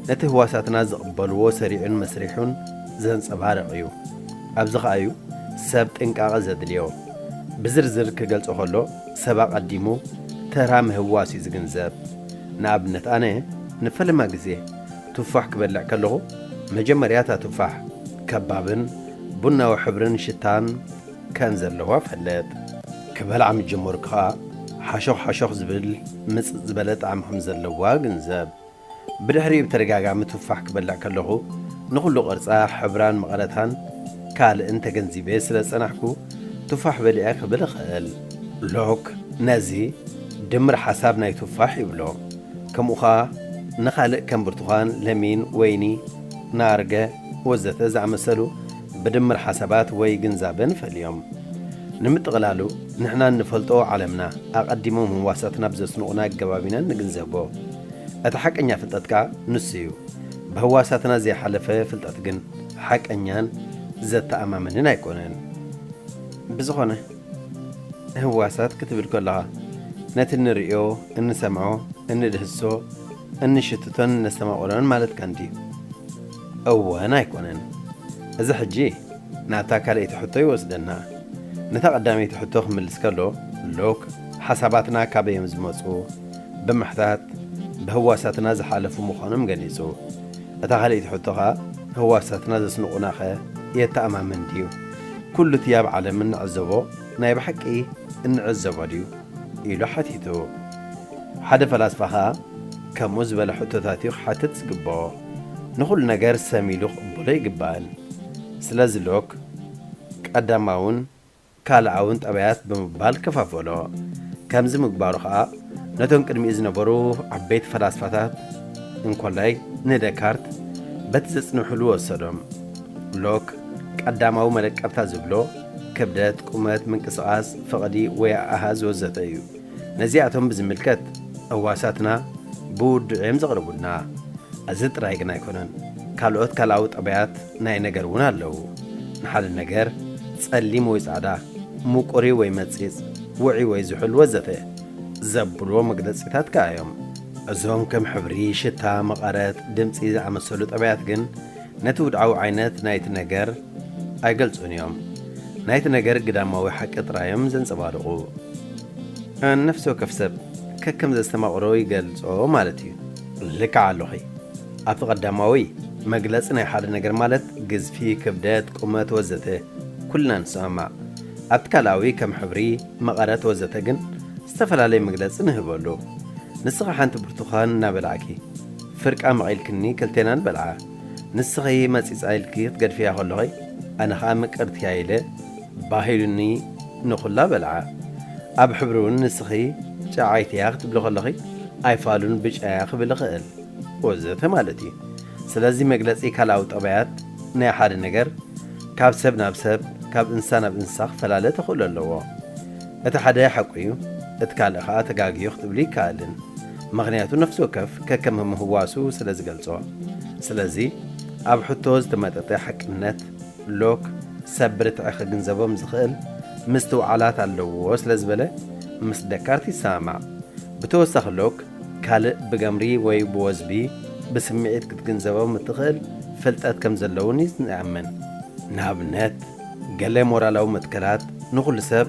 ነቲ ህዋሳትና ዝቕበልዎ ሰሪዑን መስሪሑን ዘንጸባርቕ እዩ። ኣብዚ ኸኣ እዩ ሰብ ጥንቃቐ ዘድልዮ። ብዝርዝር ክገልጾ ከሎ ሰብ ኣቐዲሙ ተራ ምህዋስ እዩ ዝግንዘብ። ንኣብነት ኣነ ንፈለማ ግዜ ቱፋሕ ክበልዕ ከለኹ መጀመርያ እታ ቱፋሕ ከባብን ቡናዊ ሕብርን ሽታን፣ ከም ዘለዋ ፈለጥ። ክበልዓ ምስ ጀመርኩ ከኣ ሓሾኽ ሓሾኽ ዝብል ምጽጽ ዝበለ ጣዕሚ ከም ዘለዋ ግንዘብ። ብድሕሪኡ ብተደጋጋሚ ቱፋሕ ክበልዕ ከለኹ ንኹሉ ቅርጻ፣ ሕብራን መቐረታን ካልእን ተገንዚበ ስለ ዝጸናሕኩ ቱፋሕ በሊዐ ክብል እኽእል። ሎክ ነዚ ድምር ሓሳብ ናይ ቱፋሕ ይብሎ። ከምኡ ከኣ ንኻልእ ከም ብርቱኳን፣ ለሚን፣ ወይኒ፣ ናርገ ወዘተ ዝኣመሰሉ ብድምር ሓሳባት ወይ ግንዛበ ንፈልዮም። ንምጥቕላሉ፣ ንሕና እንፈልጦ ዓለምና፣ ኣቐዲሞም ህዋሳትና ብዘስንቑና ኣገባብ ኢና እንግንዘቦ። እቲ ሓቀኛ ፍልጠት ከኣ ንሱ'ዩ። ብህዋሳትና ዘይሓለፈ ፍልጠት ግን ሓቀኛን ዘተኣማምንን ኣይኮነን። ብዝኾነ፣ ህዋሳት ክትብል ከሎኻ፣ ነቲ እንርእዮ፣ እንሰምዖ፣ እንድህስሶ፣ እንሽትቶን እነስተማቕሮን ማለትካ እንድዩ። እወን ኣይኮነን እዚ ሕጂ ናብታ ካልኣይቲ ሕቶ ይወስደና ነታ ቀዳመይቲ ሕቶ ክምልስ ከሎ ሎክ ሓሳባትና ካበይዮም ዝመጹ ብምሕታት ብህዋሳትና ዝሓለፉ ምዃኖም ገሊጹ እታ ካልኣይቲ ሕቶ ከኣ ህዋሳትና ዘስንቑና ከ የተኣማምን ድዩ ኩሉ እቲ ኣብ ዓለም እንዕዘቦ ናይ ብሓቂ እንዕዘቦ ድዩ ኢሉ ሓቲቱ ሓደ ፈላስፋ ከኣ ከምኡ ዝበለ ሕቶታትዩ ክሓትት ዝግብኦ። ንኹሉ ነገር ሰም ኢሉ ክቕበሎ ይግባእን። ስለዚ ሎክ ቀዳማውን ካልኣውን ጠባያት ብምባል ከፋፈሎ። ከምዚ ምግባሩ ከኣ ነቶም ቅድሚኡ ዝነበሩ ዓበይቲ ፈላስፋታት እንኮላይ ንደካርት በቲ ዘጽንሑሉ ወሰዶም። ሎክ ቀዳማዊ መለቀብታ ዝብሎ ክብደት፣ ቁመት፣ ምንቅስቓስ፣ ፍቕዲ ወይ ኣሃዝ ወዘተ እዩ። ነዚኣቶም ብዝምልከት እዋሳትና ብውዱዕ እዮም ዘቕርቡልና። እዚ ጥራይ ግን ኣይኮነን፣ ካልኦት ካልኣዊ ጠባያት ናይ ነገር እውን ኣለዉ። ንሓደ ነገር ጸሊም ወይ ጻዕዳ፣ ምቁር'ዩ ወይ መጺጽ፣ ውዑይ ወይ ዝሑል ወዘተ። ዘብሉዎ መግለጺታት ከኣ እዮም። እዞም ከም ሕብሪ፣ ሽታ፣ መቐረት፣ ድምጺ ዝኣመሰሉ ጠባያት ግን፣ ነቲ ውድዓዊ ዓይነት ናይቲ ነገር ኣይገልጹን እዮም። ናይቲ ነገር ግዳማዊ ሓቂ ጥራይ እዮም ዘንጸባርቑ። ንነፍሲ ወከፍ ሰብ ከከም ዘስተማቕሮ ይገልጾ ማለት እዩ። ልክዕ ኣሎኺ። ኣብቲ ቀዳማዊ፣ መግለጺ ናይ ሓደ ነገር ማለት ግዝፊ፣ ክብደት፣ ቁመት ወዘተ ኩልና ንሰማማዕ። ኣብቲ ካልኣዊ ከም ሕብሪ፣ መቐረት ወዘተ ግን ዝተፈላለየ መግለጺ ንህበሉ። ንስኺ ሓንቲ ብርቱዃን እናበላዕኪ፣ ፍርቃ መቒልክኒ ክልቴናን በልዓ። ንስኺ መጺጻ ኢልኪ ክትገድፍያ ከሎኺ ኣነ ከኣ ምቅርትያ ኢለ ባህ ኢሉኒ ንኹላ በልዓ። ኣብ ሕብሪውን ንስኺ ጨዓይቲያ ክትብሊ ከሎኺ ኣይፋሉን ብጫያ ክብል እኽእል። ወዘተ ማለት እዩ። ስለዚ መግለጺ ካልኣዊ ጠባያት ናይ ሓደ ነገር ካብ ሰብ ናብ ሰብ ካብ እንስሳ ናብ እንስሳ ክፈላለ ተኽእሎ ኣለዎ። እቲ ሓደ ሓቁ እዩ እቲ ካልእ ከኣ ተጋግዩ ክትብሊ ኣይከኣልን። ምኽንያቱ ነፍሲ ወከፍ ከከም ምህዋሱ ስለ ዝገልጾ። ስለዚ ኣብ ሕቶ ዝተመጠጠ ሓቅነት፣ ሎክ፣ ሰብ ብርትዒ ክግንዘቦም ዝኽእል ምስትውዓላት ኣለዎ ስለ ዝበለ ምስ ደካርት ይሰማማዕ። ብተወሳኺ ሎክ ካልእ ብገምሪ ወይ ብወዝቢ ብስምዒት ክትግንዘቦም እትኽእል ፍልጠት ከም ዘሎ'ውን ይኣምን። ንኣብነት። ገለ ሞራላዊ መትከላት ንኹሉ ሰብ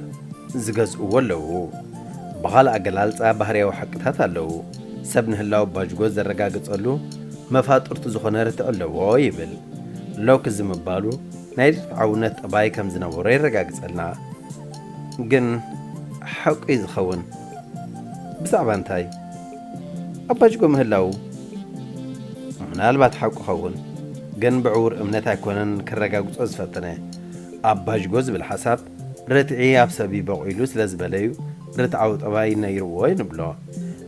ዝገዝእዎ ኣለዉ። ብኻልእ ኣገላልጻ ባህርያዊ ሓቅታት ኣለዉ። ሰብ ንህላወ ባጅጎ ዘረጋግጸሉ መፋጥርቱ ዝኾነ ርትዒ ኣለዎ ይብል። ሎክ እዚ ምባሉ ናይ ርትዓውነት ጠባይ ከም ዝነበሮ የረጋግጸልና። ግን ሓቁ'ዩ ዝኸውን? ብዛዕባ እንታይ? ኣባጅጎ ምህላዉ ምናልባት ሓቁ ይኸውን ግን ብዕዉር እምነት ኣይኮነን ከረጋግጾ ዝፈተነ ኣባጅጎ ዝብል ሓሳብ ርትዒ ኣብ ሰብ እዩ በቑይሉ ስለ ዝበለዩ ርትዓዊ ጠባይ ነይርዎ ንብሎ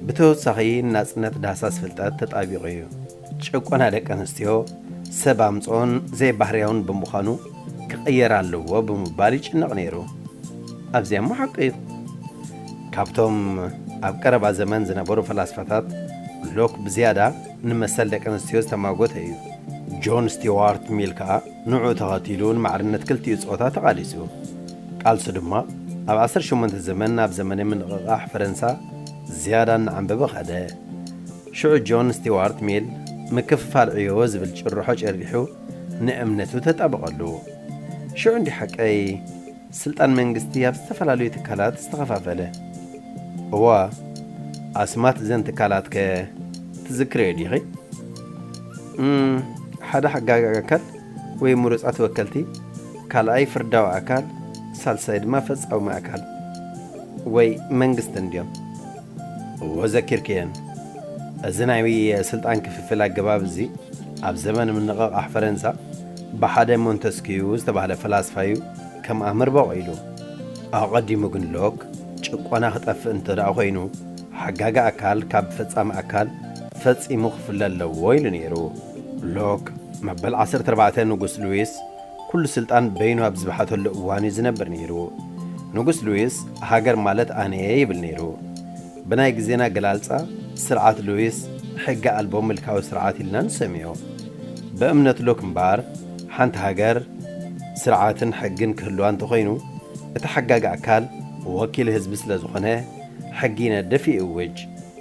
ብተወሳኺ ንናጽነት ዳህሳስ ፍልጠት ተጣቢቑ እዩ ጭቆና ደቂ ኣንስትዮ ሰብ ኣምጽኦን ዘይባህርያውን ብምዃኑ ክቕየር ኣለዎ ብምባል ይጭነቕ ነይሩ። ኣዚያ እሞ ሓቁ እዩ። ካብቶም ኣብ ቀረባ ዘመን ዝነበሩ ፈላስፋታት ሎክ ብዝያዳ ንመሰል ደቂ ኣንስትዮ ዝተማጎተ እዩ። ጆን ስቲዋርት ሚል ከኣ ንዕኡ ተኸቲሉ ንማዕርነት ክልቲኡ ጾታ ተቓሊሱ። ቃልሱ ድማ ኣብ ዓሰርተ ሸሞንተ ዘመን ናብ ዘመነ ምንቕቓሕ ፈረንሳ ዝያዳ እናዓምበበ ከደ። ሽዑ ጆን ስቲዋርት ሚል ምክፍፋል ዕዮ ዝብል ጭርሖ ጭሪሑ ንእምነቱ ተጣበቐሉ። ሽዑ እንዲዩ ሓቀይ ስልጣን መንግስቲ ኣብ ዝተፈላለዩ ትካላት ዝተኸፋፈለ። እወ፣ ኣስማት እዘን ትካላትከ ትዝክርዮ ዲኺ? እም፣ ሓደ ሓጋጊ ኣካል ወይ ምሩጻት ወከልቲ፣ ካልኣይ ፍርዳዊ ኣካል፣ ሳልሳይ ድማ ፈጻውሚ ኣካል ወይ መንግስቲ እንድዮም። እወ ዘኪርክየን። እዚ ናይ ስልጣን ክፍፍል ኣገባብ እዚ ኣብ ዘመን ምንቕቓሕ ፈረንሳ ብሓደ ሞንተስክዩ ዝተባህለ ፈላስፋዩ ከም ኣምር በቚሉ። ኣቐዲሙ ግን ሎክ ጭቆና ክጠፍእ እንተድኣ ኮይኑ ሓጋጊ ኣካል ካብ ፈጻሚ ኣካል ፈጺሙ ክፍለ ኣለዎ ኢሉ ነይሩ። ሎክ መበል ዓሰርተ ኣርባዕተ ንጉስ ሉዊስ ኩሉ ስልጣን በይኑ ኣብ ዝብሓተሉ እዋን እዩ ዝነብር ነይሩ። ንጉስ ሉዊስ ሃገር ማለት ኣነ እየ ይብል ነይሩ። ብናይ ግዜና ኣገላልጻ ስርዓት ሉዊስ ሕገ ኣልቦ ምልካዊ ስርዓት ኢልና ንሰምዮ። ብእምነት ሎክ እምበኣር ሓንቲ ሃገር ስርዓትን ሕግን ክህልዋ እንተኾይኑ እቲ ሓጋጊ ኣካል ወኪል ህዝቢ ስለዝኾነ ሕጊ ይነድፍ ይእውጅ።